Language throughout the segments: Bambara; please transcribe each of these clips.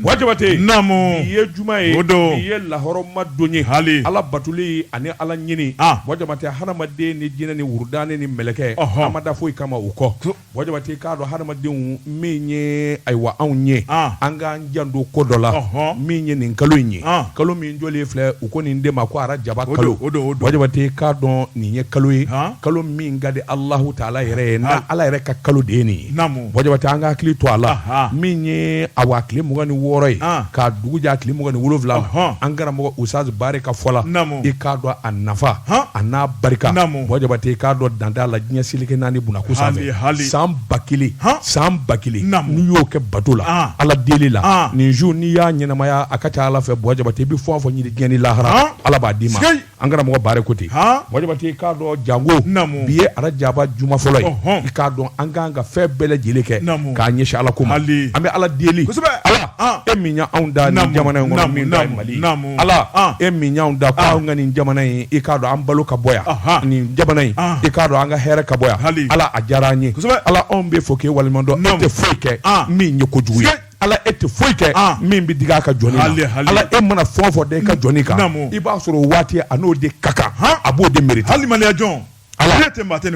Bɔ Jabate namu bi ye juma ye o don in ye lahɔrɔma don ye hali ala batuli ani ala ɲini Bɔ Jabate hadamaden ni jinɛ ni wudani ni mɛlɛkɛ a ma da foyi kama o kɔ Bɔ Jabate k'a dɔn hadamadenw min ye ayiwa anw ye an k'an janto ko dɔ la min ye nin kalo in ye kalo min jɔlen filɛ u ko nin de ma ko arajaba kalo Bɔ Jabate k'a dɔn nin ye kalo ye kalo min ka di alahu taala yɛrɛ ye n' ala yɛrɛ ka kalo de ye nin ye Bɔ Jabate an k'an hakili to a la min ye awa tile mugan ni wɔɔrɔ ye ka dugu jɛ tile mugan ni wolowula an karamɔgɔ usutazi Bari ka fɔ la i k'a dɔn a nafa a n'a barika Bɔ Jabate i k'a dɔn dan t'a la diɲɛ seleke naani bku san ba kelen san ba kelen n'i y'o kɛ bato la ala deli la nin su n'i y'a ɲɛnamaya a ka ca ala fɛ Bɔ Jabate i bɛ fɛn o fɛn ɲini diɲɛ ni lahara ala b'a d'i ma an karamɔgɔ Bari ko ten Bɔ Jabate i k'a dɔn janko bi ye arajaba juma fɔlɔ ye k'a dɔn an k'an ka fɛn bɛɛ lajɛlen kɛ k'a ɲɛsin ala ko ma an bɛ ala deli ala e min y'anw da nin jamana in mali ala e min y'an da ka nin jamana in i k'a dɔn an balo ka bɔ yan nin jamana in i k'a dɔn an ka hɛrɛ ka bɔ yan ala a diyara an ye ala anw b'i fo k'i waleɲumandɔn i tɛ foyi kɛ min ye kojugu ye ala e tɛ foyi kɛ ah. min bɛ digi i ka jɔn la e mana fɛn o fɛn da i ka jɔn kan i b'a sɔrɔ o waati a n'o de ka kan a b'o de miiri hali maliya jɔn ala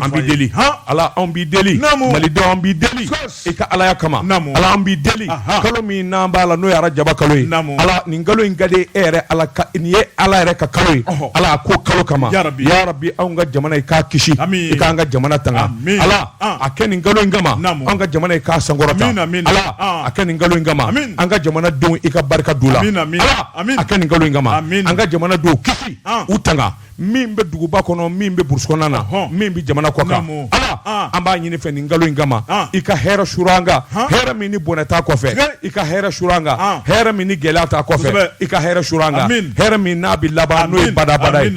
an b'i deli ala anw b'i deli malidenw an b'i deli i ka alaya kama ala an b'i deli kalo min an b'a la n'o ye arajaba kalo ye ala nin kalo in ka di e yɛrɛ ala nin ye ala yɛrɛ ka kalo ye ala k'o kalo kama yarabi anw ka jamana i k'a kisi i k'an ka jamana tanga ala a kɛ nin kalo in kama an ka jamana k'a sankɔrɔta a kɛ nin kalo kama an ka jamanaden i ka barika don u la a kɛ nin kalo kama an ka jamanadenw kisi u tanga min bɛ duguba kɔnɔ min bɛ burusi kɔnɔna na min bɛ jamana kɔ ala an b'a ɲini i fɛ nin kalo in kama i ka hɛrɛ su an kan hɛrɛ min ni bɔnɛ t'a kɔfɛ i ka hɛrɛ su an kan hɛrɛ min ni gɛlɛya t'a kɔfɛ i ka hɛrɛ su an kan hɛrɛ min n'a bɛ laban n'o ye badaa badaa ye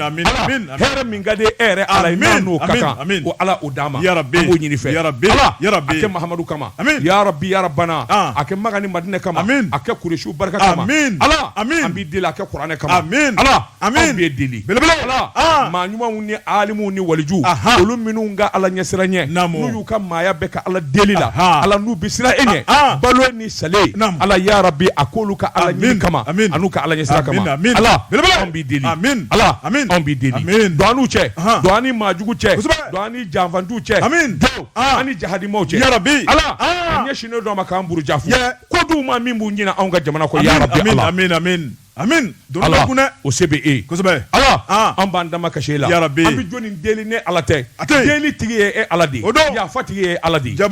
hɛrɛ min ka di e yɛrɛ ala ye n'an n'o ka kan ko ala o d'an ma an b'o ɲini i fɛ ala a kɛ mahamadu kama yarabi yarabana a kɛ makan ni madinɛ kama a kɛ kurɛsiw barika kama ala an b'i deli a kɛ kuranɛ kama ala an b'i deli belebele ala maa ɲumanw ni alimu ni waliju olu minnu ka ala ɲɛsiranɲɛ n'u y'u ka maaya bɛɛ kɛ ala deli la ala n'u bɛ siran e ɲɛ balo ni sa ala yarabi a k'olu ka ala ɲini kama an'u ka ala ɲɛ kama ala bɛ ala bɛ don an n'u cɛ don an ni maajugu cɛ don an ni janfanciw cɛ an ni jahadimaw cɛ yarabi a ɲɛsinnen don an ma k'an buruja ko dun maa min b'o ɲini anw ka jamana ko yɛrɛ A ala o se bɛ e ala an b'an dama ka e la an bɛ jɔn deli ni ala tɛ a deli tigi ye e ala de yafa tigi ye ala de ja an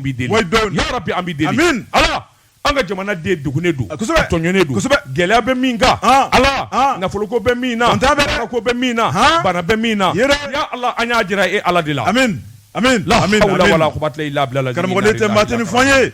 bɛ deli an bɛ deli ala an ka jamana den dɛgunnen don tɔɲɔnen don gɛlɛya bɛ min kan ala nafoloko bɛ min na ko bɛ min na bana bɛ min na ala an y'a jira e ala de la la la karamɔgɔ tɛ mat ni fɔ ye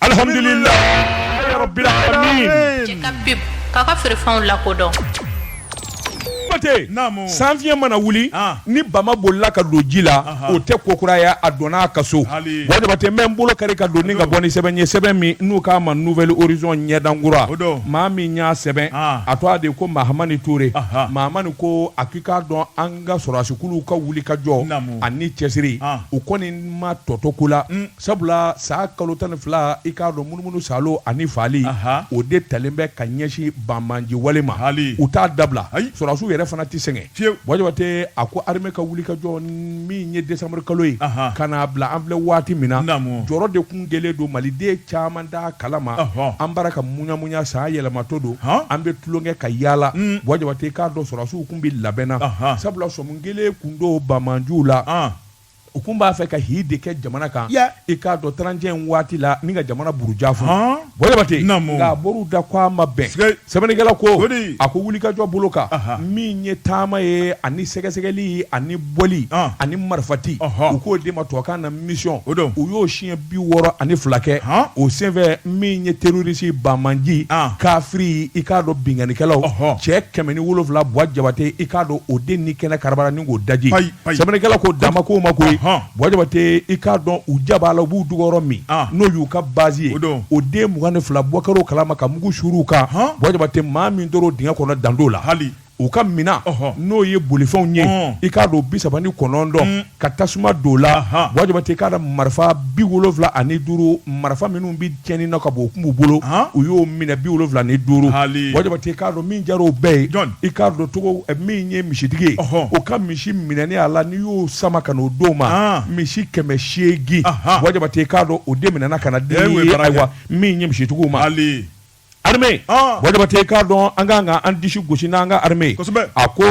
alhamdulillah rabbil alamin cɛ ka pip k'a ka feerefɛnw lakodɔn Mate, Naamu. sanfiɲɛ mana wuli Ah. ni bama bolila ka don ji la o tɛ kokuraya a donna a ka so Hali. bɔ jabate n bɛ n bolo kari ka don ni ka bɔ ni sɛbɛn ye sɛbɛn min n'u k'a ma nouvel horizon ɲɛdankura O don. maa min y'a sɛbɛn Ah. a tɔgɔ de ko mahamani ture Aha. mahamani ko a k'i k'a dɔn an ka sɔrɔdasikuluw ka wuli ka jɔ Naamu. ani cɛsiri Ah. u kɔni ma tɔ to ko la Sabula san kalo tan ni fila i k'a dɔn munumunu saalo ani faali o de talen bɛ ka ɲɛsin banmanji wale ma hali u t'a dabila sɔrɔsiw yɛrɛ fana tɛ sɛgɛn fiyewu bɔ jabate a ko armée ka wuli ka jɔ min ye décembre kalo ye ka na bila an filɛ waati min na jɔrɔ de tun kɛlen don maliden caman b'a kala ma an bara ka muyamuya san yɛlɛmato don an bɛ tulonkɛ ka yalala bɔ jabate i k'a dɔn sɔrɔsiw tun bɛ labɛn na sabula sɔmi kɛlen tun don banmanjiw la u tun b'a fɛ ka hi de kɛ jamana kan i k'a dɔn trente et un waati la ni ka jamana buruja fɔ bɔ jabate nka mori da ko a ma bɛn sɛbɛnnikɛla ko a ko wulikajɔ bolo kan min ye taama ye ani sɛgɛsɛgɛli ani bɔli ani marifati u k'o de ma tubabukan na misiyɔn o u y'o siɲɛ bi wɔɔrɔ ani fila kɛ o senfɛ min ye terorisi banmanji kafiri i k'a dɔn binkannikɛlaw cɛ kɛmɛ ni wolonwula bɔ jabate i k'a dɔn o de ni kɛnɛ karabara ni k'o daji sɛbɛnnikɛla ko dan ma k'o ma koyi bɔ jabate i k'a dɔn u jaba la u b'u dogo yɔrɔ min n'o y'u ka base ye o de mugan ni fila bɔra u kala ma ka mugu suuru u kan bɔ jabate maa min tora dingɛ kɔnɔ dan t'o la hali u ka minɛn n'o ye bolifɛnw ye i k'a dɔn bi saba ni kɔnɔntɔn ka tasuma d'o la bɔ jabate i k'a dɔn marifa bi wolonwula ani duuru marifa minnu cɛnni na ka bɔ o kun b'u bolo u y'o minɛ bi wolonwula ni duuru bɔ jabate i k'a dɔn min jar'o bɛɛ ye i k'a dɔn cogo eh, min ye misitigi ye o ka misi minɛni a la n'i y'o sama ka n'o d'o ma misi kɛmɛ seegin bɔ jabate i k'a dɔn o de minɛna ka na di ayiwa min ye misitigiw ma armée Ah. bɔ jabate i k'a dɔn an ka kan ka an disi gosi n'an ka armée ye. Kosɛbɛ. a ko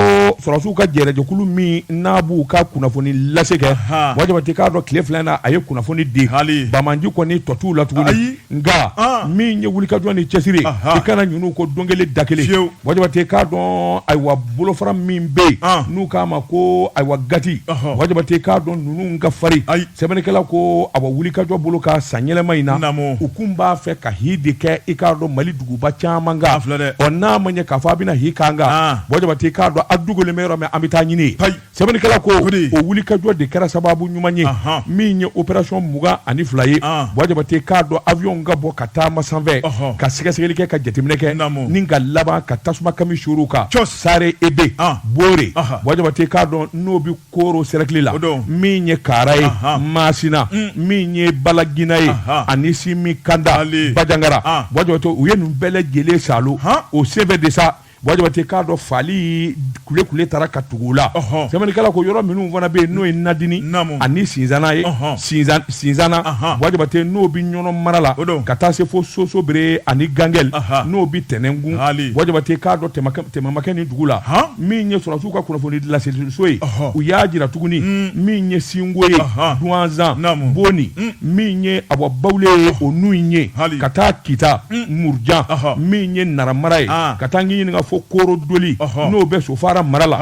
sɔrɔsiw ka jɛrɛjɛkulu min n'a b'u ka kunnafoni lase kɛ Ahan. bɔ jabate i k'a dɔn tile fila in na a ye kunnafoni di Hali. bamanji kɔni tɔ t'u la tuguni Ayi. nka Ah. min ye wulikajɔ ni cɛsiri ye, Ahan. i kana ɲin'u ko don kelen da kelen Fiyewu. bɔ jabate i k'a dɔn ayiwa bolofara min bɛ yen Ah. n'u k'a ma ko ayiwa gati Ɔhɔ. bɔ jabate i k'a dɔn ninnu ka farin Ayi. sɛbɛnnikɛla ko a wulikajɔ bolo ka san yɛlɛma in na u kun b'a fɛ ka hi de kɛ i k'a dɔn mali duguba caman kan ɔ n'a ma ɲɛ k'a fɔ a bɛna hi kan kan ah. bɔ jabate k'a dɔn a dogolen bɛ yɔrɔ min an bɛ taa ɲini yen sɛbɛnnikɛla ko o wulikajɔ de kɛra sababu ɲuman ye min ye operasɔn mugan ani fila ye ah. bɔ jabate k'a dɔn awiyɔn ka bɔ ka taama sanfɛ ka sɛgɛsɛgɛli kɛ ka jateminɛ kɛ ni ka laban ka tasuma kami suuru u kan sare ebe ah. bore bɔ jabate k'a dɔn n'o koro sɛrɛkili la min ye kaara ye masina mm. min ye balagina ye ani simikanda bajangara ah. bɔ jabate u ye nin bɛɛ lajɛlen salo o senfɛ de sa bɔ jabate k'a dɔn fali kule kule taara ka tugu o la sɛbɛnnikɛla ko yɔrɔ minnu fana bɛ yen n'o ye nadini ani sinzana ye sinzana bɔ jabate n'o bɛ ɲɔnɔ mara la ka taa se fo sosobere ani gangɛli n'o bɛ tɛnɛnkun bɔ jabate k'a dɔn tɛmɛmakɛ ni dugu la min ye sɔrɔ u ka kunnafoni laseliso ye u y'a jira tuguni mm. min ye sinko ye duwanzan boni mm. min ye awa bawule ye o n'u ye ka taa kita mm. murujan min ye nara mara ye ah. ka taa k'i ɲininka fo koro doli n'o bɛ sofara mara la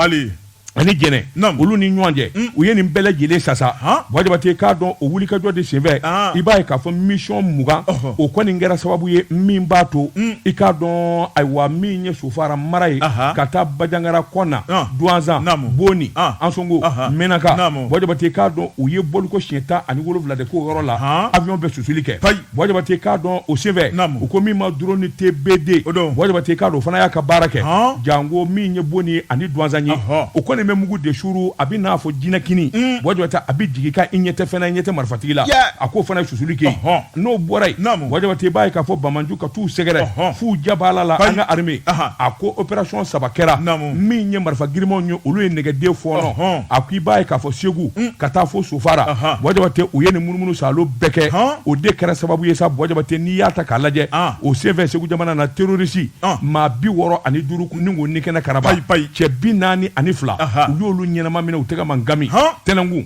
ani jɛnɛ olu ni ɲɔgɔn cɛ u ye nin bɛɛ lajɛlen sasa bɔ jabate k'a dɔn o wulikajɔ de senfɛ ah. i b'a ye k'a fɔ misiyɔn mugan o kɔni kɛra sababu ye min b'a to i k'a dɔn ayiwa min ye so fara mara ye ka taa bajangara kɔna duwanzan boni ansongo menaka bɔ jabate k'a dɔn u ye bɔli ko siɲɛ tan ani wolowula de k'o yɔrɔ la awiyɔn bɛ susuli kɛ bɔ jabate k'a dɔn o senfɛ u ko min ma dɔrɔni tebede bɔ jabate k'a dɔn o fana y'a ka baara kɛ janko min ye boni ani duwanzan ye o kɔni bɛ mugu de suuru a bɛ n'a fɔ jinɛ kini bɔ jabate a bɛ jigin ka i ɲɛ tɛ fana ɲɛ tɛ marifatigi la a k'o fana ye susuli kɛ N'o bɔra yen jabate i b'a ye k'a fɔ banjugu ka taa u sɛgɛrɛ f'u ja la la an ka arame a ko operasɔn saba kɛra min ye marifa girinmanw ye olu ye nɛgɛ de fɔɔnɔ a ko i b'a ye k'a fɔ segu ka taa fo sofara jabate u ye nin munumunu salo bɛɛ kɛ o de kɛra sababu ye jabate n'i y'a ta k'a lajɛ o senfɛ segu jamana na terorisi maa bi wɔɔrɔ ani duuru u y'o ni kɛnɛ karaba cɛ bi naani ani fila u y'olu ɲɛnama minɛ u tɛgɛ man kanmi tɛnɛnkun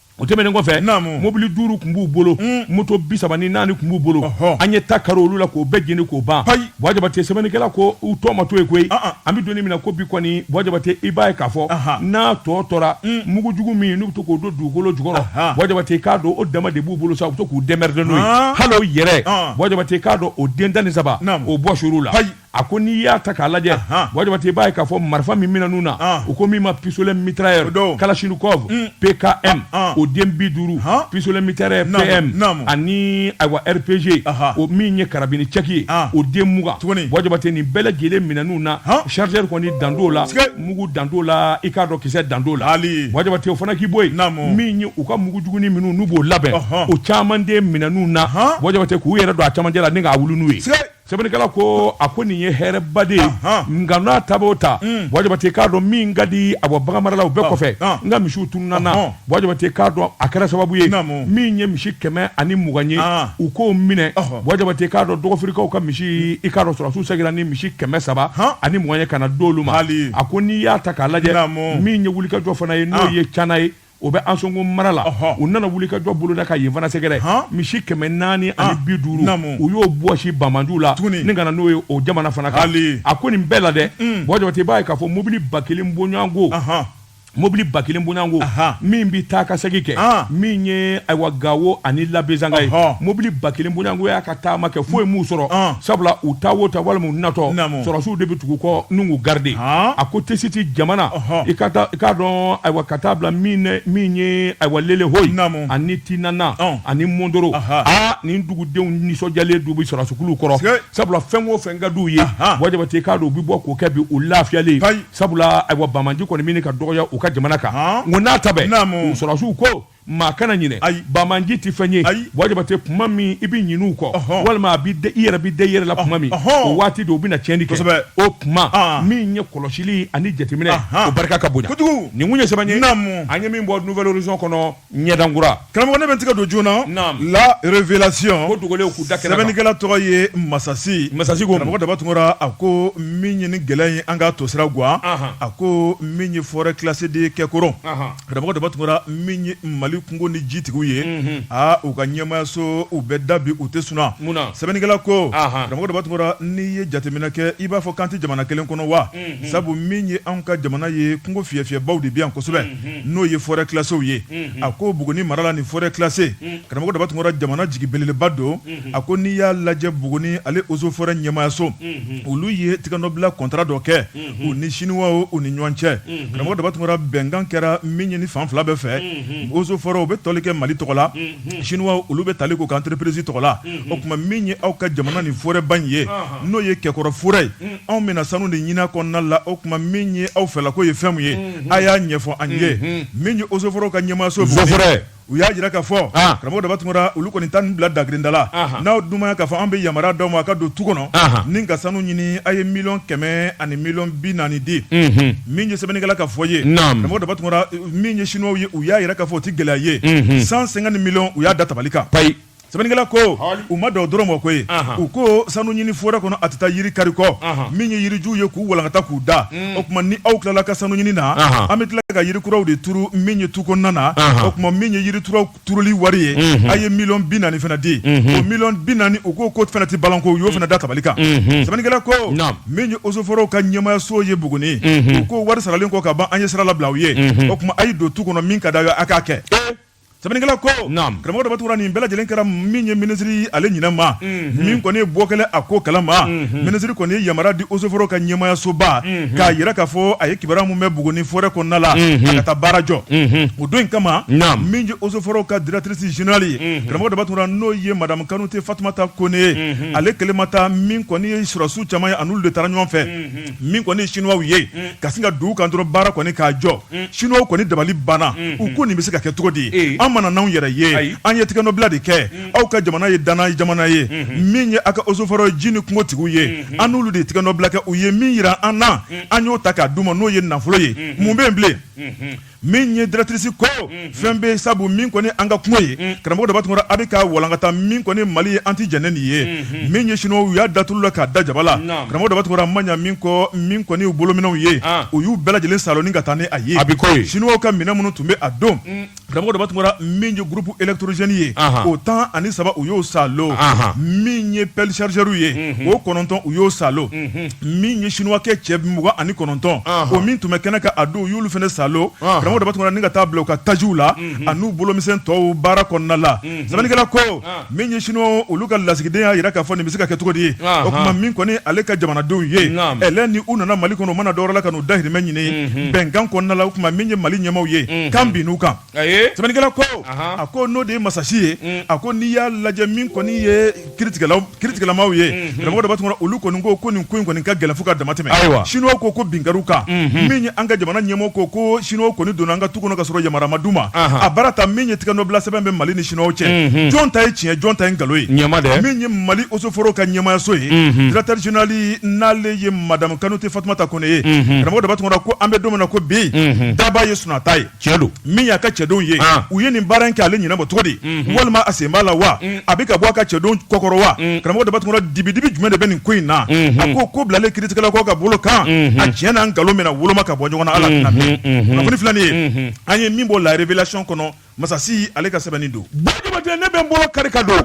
o tɛmɛnen kɔfɛ mobili duuru tun b'u bolo hmm. moto bi saba ni naani tun b'u bolo an ye ta kari olu la k'o bɛɛ jeni k'o ban bɔjabate sɛbɛnnikɛla ko u tɔ ma to yen koyi ah, ah. an bɛ don nin min na ko bi kɔni bɔjabate i b'a ye k'a fɔ n'a tɔ tora hmm. mugu jugu min n'u bɛ to k'o don dugukolo jukɔrɔ bɔjabate k'a dɔn o dama de b'u bolo sa u bɛ to k'u dɛmɛrɛdɛ n'o ye ah. hali o yɛrɛ bɔjabate k'a dɔn o den tan ni saba o bɔsir'u la a ko n'i y'a ta k'a lajɛ buwa jabate i b'a ye k'a fɔ marifa min minɛn'u na u ko min ma pistolet mitrailleur kalachnikov mm. pkm o den bi duuru pistolet mitrailleur pm ani ayiwa rpg o min ye carabine tchèque ye o den mugan buwa jabate nin bɛɛ lajɛlen minɛn'u na chargeur kɔni dan t'o la mugu dan t'o la i k'a dɔn kisɛ dan t'o la buwa jabate o fana k'i bɔ yen min ye u ka mugu juguni minnu n'u b'o labɛn o caman de minɛn'u na buwa jabate k'u yɛrɛ don a camancɛ la ni k'a wuli n'u ye sɛbɛnnikɛla ko a ko nin ye hɛrɛba de ye nka n'a ta o ta mm. buwa jabate k'a dɔn min ka di a bɔ baganmaralaw bɛɛ ah, kɔfɛ ah. n ka misiw tununna na ah, buwa jabate k'a dɔn a kɛra sababu ye min ye misi kɛmɛ ani mugan ye u k'o minɛ buwa jabate k'a dɔn dɔgɔfirikaw ka misi i k'a dɔn sɔrɔdasiw segira ni misi kɛmɛ saba ani mugan ye ka na d'olu ma a ko n'i y'a ta k'a lajɛ min ye wulikajɔ fana ye n'o ye cana ye o bɛ ansongo mara la u nana wulikajɔ boloda ka yen fana sɛgɛrɛ misi kɛmɛ naani ani bi duuru u y'o bɔsi banbaanciw la tuguni ka na n'o ye o jamana fana kan a ko nin bɛɛ la dɛ buwa jabate i b'a ye k'a fɔ mobili ba kelen bonyayanko mobili ba kelen bonyayanko min bɛ taa ka segin kɛ min ye ayiwa gawo ani labezanga ye mobili ba kelen bonyayanko y'a ka taama kɛ foyi ye min sɔrɔ sabula u taatɔ walima natɔ sɔrɔdasiw de bɛ tugu u kɔ k'u garidi a ko tɛsiti jamana i k'a dɔn ayiwa ka taa bila min ye ayiwa lelehoyi ani tinhama ani mɔndoro aa nin dugudenw nisɔndiyalen de bɛ sɔrɔdasikulu kɔrɔ sabula fɛn o fɛn ka d'u ye buwa jabate i k'a dɔn u bɛ bɔ k'o kɛ bi u lafiyalen sabula ayiwa banbaanci kɔni bɛ ɲini ka dɔgɔya u ka jamana kan n'a ta sɔrɔdasiw ko maa kana ɲinɛ ayi banbaanci tɛ fɛn ye ayi buwa jabate kuma min i bɛ ɲin'u kɔ walima a bɛ i yɛrɛ bɛ da i yɛrɛ la kuma min o waati de u bɛna tiɲɛni kɛ kosɛbɛ o kuma ah. min ye kɔlɔsili ani jateminɛ o barika ka bonya kojugu nin kun ye sɛbɛn ye naamu an ye min bɔ nouvel horizon kɔnɔ ɲɛdan kura karamɔgɔ ne bɛ tigɛ don joona naamu la révélation ko dogolenw k'u da kɛnɛ kan sɛbɛnnikɛla tɔgɔ ye masasi masasi ko karamɔgɔ daba tunkara a ko min ye nin gɛlɛya in an ka tosira guwa a ko min ye forêt classée de ye kɛkɔrɔ. karamɔgɔ daba tunkara min ye mali kungo ni jitigiw ye aa u ka ɲɛmayaso u bɛ da bi u tɛ sunɔgɔ sɛbɛnnikɛla ko karamɔgɔ daba tunkara n'i ye jateminɛ kɛ i b'a fɔ k'an tɛ jamana kelen kɔnɔ wa sabu min ye anw ka jamana ye kungo fi fiɲɛyɛnbaw de bɛ yan kosɛbɛ n'o ye forêt classéew ye a ko buguni mara la nin forêt classée karamɔgɔ daba tunkara jamana jigi beleba don a ko n'i y'a lajɛ buguni ale eaux et forêts ɲɛmayaso olu ye tɛgɛnɔbila contrat dɔ kɛ u ni chinois u ni ɲɔgɔn cɛ karamɔgɔ daba tunkara bɛnkan kɛra min ye nin fan fila bɛɛ fɛ eaux et forêts u bɛ tali kɛ mali tɔgɔ la chinois olu bɛ tali k'u ka entreprise tɔgɔ la o tuma min ye aw ka jamana nin forêtba in ye n'o ye kɛkɔrɔ forêt ye anw bɛna sanu de ɲini a kɔnɔna la o tuma min ye aw fɛla ko ye fɛnmu ye a y'a ɲɛfɔ an ye min ye eaux et forêts ka ɲɛmaaso u y'a jira ka fɔ karamɔgɔ daba tunkara olu kɔni tan ni bila dagkirinda n'aw dunya k'a fɔ an bɛ yamaruya d'aw ma a ka don tu kɔnɔ ni ka sanu ɲini a ye miliyɔn kɛmɛ ani miliyɔn bi naani di min ye sɛbɛnnikɛla ka fɔ ye karamɔgɔ daba tunkara min ye sinuwaw ye u y'a jira ka fɔ o tɛ gɛlɛya ye cent cinquante millions u y'a da tabali kan sɛbɛnnikɛla ko Hali. o ma dan o dɔrɔn ma koyi Ahan. u ko sanu ɲini forɛ kɔnɔ a tɛ taa yiri kari kɔ Ahan. min ye yirijuw ye k'u walankata k'u da o tuma ni aw tilala ka sanu ɲini na Ahan. an bɛ tila ka yiri kuraw de turu min ye tu kɔnɔna na Ahan. o tuma min ye yiri kuraw turuli wari ye a ye miliyɔn bi naani fana di o miliyɔn bi naani u ko k'o fana tɛ balanko u y'o fana da tabali kan sɛbɛnnikɛla ko Naam. min ye osoforow ka ɲɛmayaso ye buguni u ko wari saralen kɔ ka ban an ye sira labila aw ye o tuma a ye don tu kɔnɔ min ka d'aw ye a k'a kɛ sɛbɛnnikɛla ko karamɔgɔ daba tunkara nin bɛɛ lajɛlen kɛra min ye minisiri ale ɲinɛ ma mhm. min kɔni ye bɔ kɛlen a ko kalama mhm. minisiri kɔni ye yamaruya di osoforo ka ɲɛmayasoba mhm. k'a jira k'a fɔ a ye kibaruya min mɛn buguni forɛ kɔnɔna la a ka taa baara jɔ o don in kama min ye osoforo ka directrice générale ye karamɔgɔ daba tunkara n'o ye madame kanute fatumata kone ye ale kelen ma taa min kɔni ye sɔrɔsiw caman ye a n'olu de taara ɲɔgɔn fɛ min kɔni sinuwaw ye ka sin ka d'u kan dɔrɔn baara kɔni k'a jɔ sinuwaw kɔni dabali banna u ko nin bɛ se ka kɛ cogo di ye an ma na anw yɛrɛ ye an ye tɛgɛnɔbila de kɛ aw ka jamana ye dannaya jamana ye min ye aw ka osoforo ye ji ni kungotigiw ye an n'olu de tɛgɛnɔbila kɛ u ye min jira an na an y'o ta k'a d'u ma n'o ye nafolo ye mun bɛ bilen min ye directrice ko fɛn bɛ sabu min kɔni an ka kungo ye karamɔgɔ daba tunkara a bɛ ka walankata min kɔni mali ye an tɛ jɛn ni nin ye min ye sinuwaw ye u y'a datu la k'a da jaba la karamɔgɔ daba tunkara a man ɲɛ min kɔ min kɔni u bolominɛnw ye u y'u bɛɛ lajɛlen saalo ni ka taa ni a ye sinuwaw ka minɛn minnu tun bɛ a don karamɔgɔ daba tunkara min ye groupe électrogène ye o tan ani saba u y'o saalo min ye pɛsariw ye o kɔnɔntɔn u y'o saalo min ye sinuwakɛ cɛ mugan ani kɔnɔntɔn o min tun bɛ kɛnɛ kan a don y'olu fana saalo karamɔgɔ daba tunkara ni ka ta bila u ka tajiw la an'u bolomisɛn tɔw baara kɔnɔna la sɛbɛnnikɛla ko min ye sinuwa olu ka lasigiden y'a jira k'a fɔ nin bɛ se ka kɛ cogo di ye o tuma min kɔni ale ka jamanadenw ye ɛ ni u nana mali kɔnɔ u ma na dɔwɛrɛ la ka n'u dahirimɛ ɲini bɛnkan kɔnɔna la o tuma min ye mali ɲɛmaaw ye ka na bin u kan sɛbɛnnikɛla ko a ko n'o de ye masasi ye mm. a ko n'i y'a lajɛ min kɔni ye kitigɛlamaw ye mm-hmm. karamɔgɔ daba tunkara olu kɔni ko ko nin ko in kɔni ka gɛlɛn fo ka damatɛmɛ ayiwa sinuwaw ko ko bin kɛr'u kan mm-hmm. min ye an ka jamana ɲɛmɔgɔ ko ko sinuwaw kɔni donna an ka tu kɔnɔ ka sɔrɔ yamaruya ma d'u ma a baara ta min ye tɛgɛnɔbila sɛbɛn bɛ mali ni sinuwaw cɛ mm-hmm. jɔn ta ye tiɲɛ jɔn ta ye nkalon ye ɲɛma dɛ min ye mali osoforo ka ɲɛmayaso ye directeur général n'ale ye madame kanute fatumata kone ye karamɔgɔ daba tunkara ko an bɛ don min na ko bi daba ye sunata ye cɛ don min y'a ka cɛdenw ye ah. u ye nin baara in kɛ ale ɲɛnabɔ cogo di mhm. walima a sen b'a la wa mm. a bɛ ka bɔ a ka cɛdenw kɔkɔrɔ wa mm. karamɔgɔ Daba Tunkara dibidibi jumɛn de bɛ nin ko in na mhm. a ko ko bilalen kiritigɛla kɔ ka bolo kan mhm. a tiɲɛ n'a nkalon bɛna woloma ka bɔ ɲɔgɔn na ala tɛna mɛn kunnafoni filanan ye an ye min bɔ la révélation kɔnɔ masasi ale ka sɛbɛnni don Buwa Jabate ne bɛ n bolo kari ka don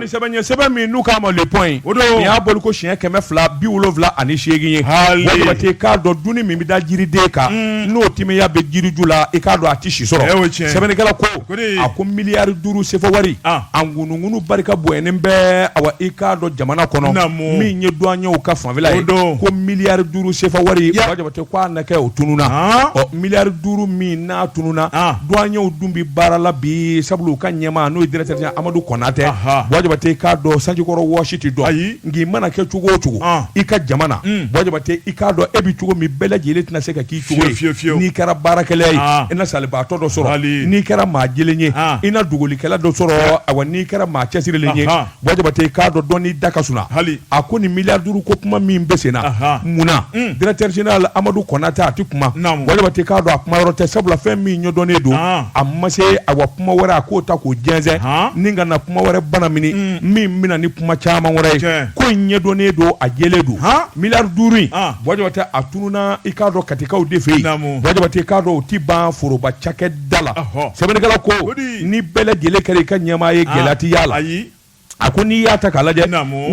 sɛbɛn sɛbɛn min n'u k'a ma Le Point o don y'a bɔli ko siɲɛ kɛmɛ fila bi wolowula ani seegin ye Buwa Jabate i k'a dɔn dumuni min bɛ da jiriden kan mm. n'o timiya bɛ jiriju la i k'a dɔn a tɛ si sɔrɔ sɛbɛnnikɛla ko a ko miliyari duuru sefɔ wari ah. a ŋunuŋunu barika bonyɛnen bɛ awa i k'a dɔn jamana kɔnɔ min ye duwanyew ka fanfɛla ye ko miliyari duuru sefɔ wari k'a na kɛ o tununna Haan. ɔ miliyari duuru min n'a tununna Haan. duwanyew dun bɛ baara la bi sabula u ka ɲɛmaa n'o ye directeur général Amadu Kɔnatɛ Aha. Buwa Jabate i k'a dɔn sanjikɔrɔ wɔsi tɛ dɔn Ayi. nka i mana kɛ cogo o cogo Haan. i ka jama na Mm. Buwa Jabate i k'a dɔn e bɛ cogo min bɛɛ lajɛlen tɛna se ka k'i cogo Fiyewu, fiyewu, fiyewu. n'i kɛra baarakɛla ye Haan. i na salibaatɔ dɔ sɔrɔ Hali. n'i kɛra maa jɛlen ye Haan. i na dogolikɛla dɔ sɔrɔ awa n'i kɛra maa cɛsirilen ye Ahan. Buwa Jabate i k'a dɔn dɔ da ka sun hali a ko nin miliyari duuru ko kuma min bɛ sen na mun na directeur général Amadu Kɔnatɛ a tɛ kuma Buwa Jabate i k'a dɔn a kuma yɔrɔ tɛ sabula fɛn min ɲɛdɔnnen don a ma se a wa kuma wɛrɛ a k'o ta k'o jɛsɛn ni ka na kuma wɛrɛ bana min min bɛna ni kuma caman wɛrɛ ye ko in ɲɛdɔnnen don a jɛlen don miliyari duuru Buwa Jabate a tununna i k'a dɔn katikaw de fɛ yen k'a dɔn o tɛ ban foroba cakɛ dala sɛbɛnnikɛla ko ni bɛɛ lajɛlen kɛra i ka ɲɛmaa ye ah, gɛlɛya tɛ y'a la a ko n'i y'a ta k'a lajɛ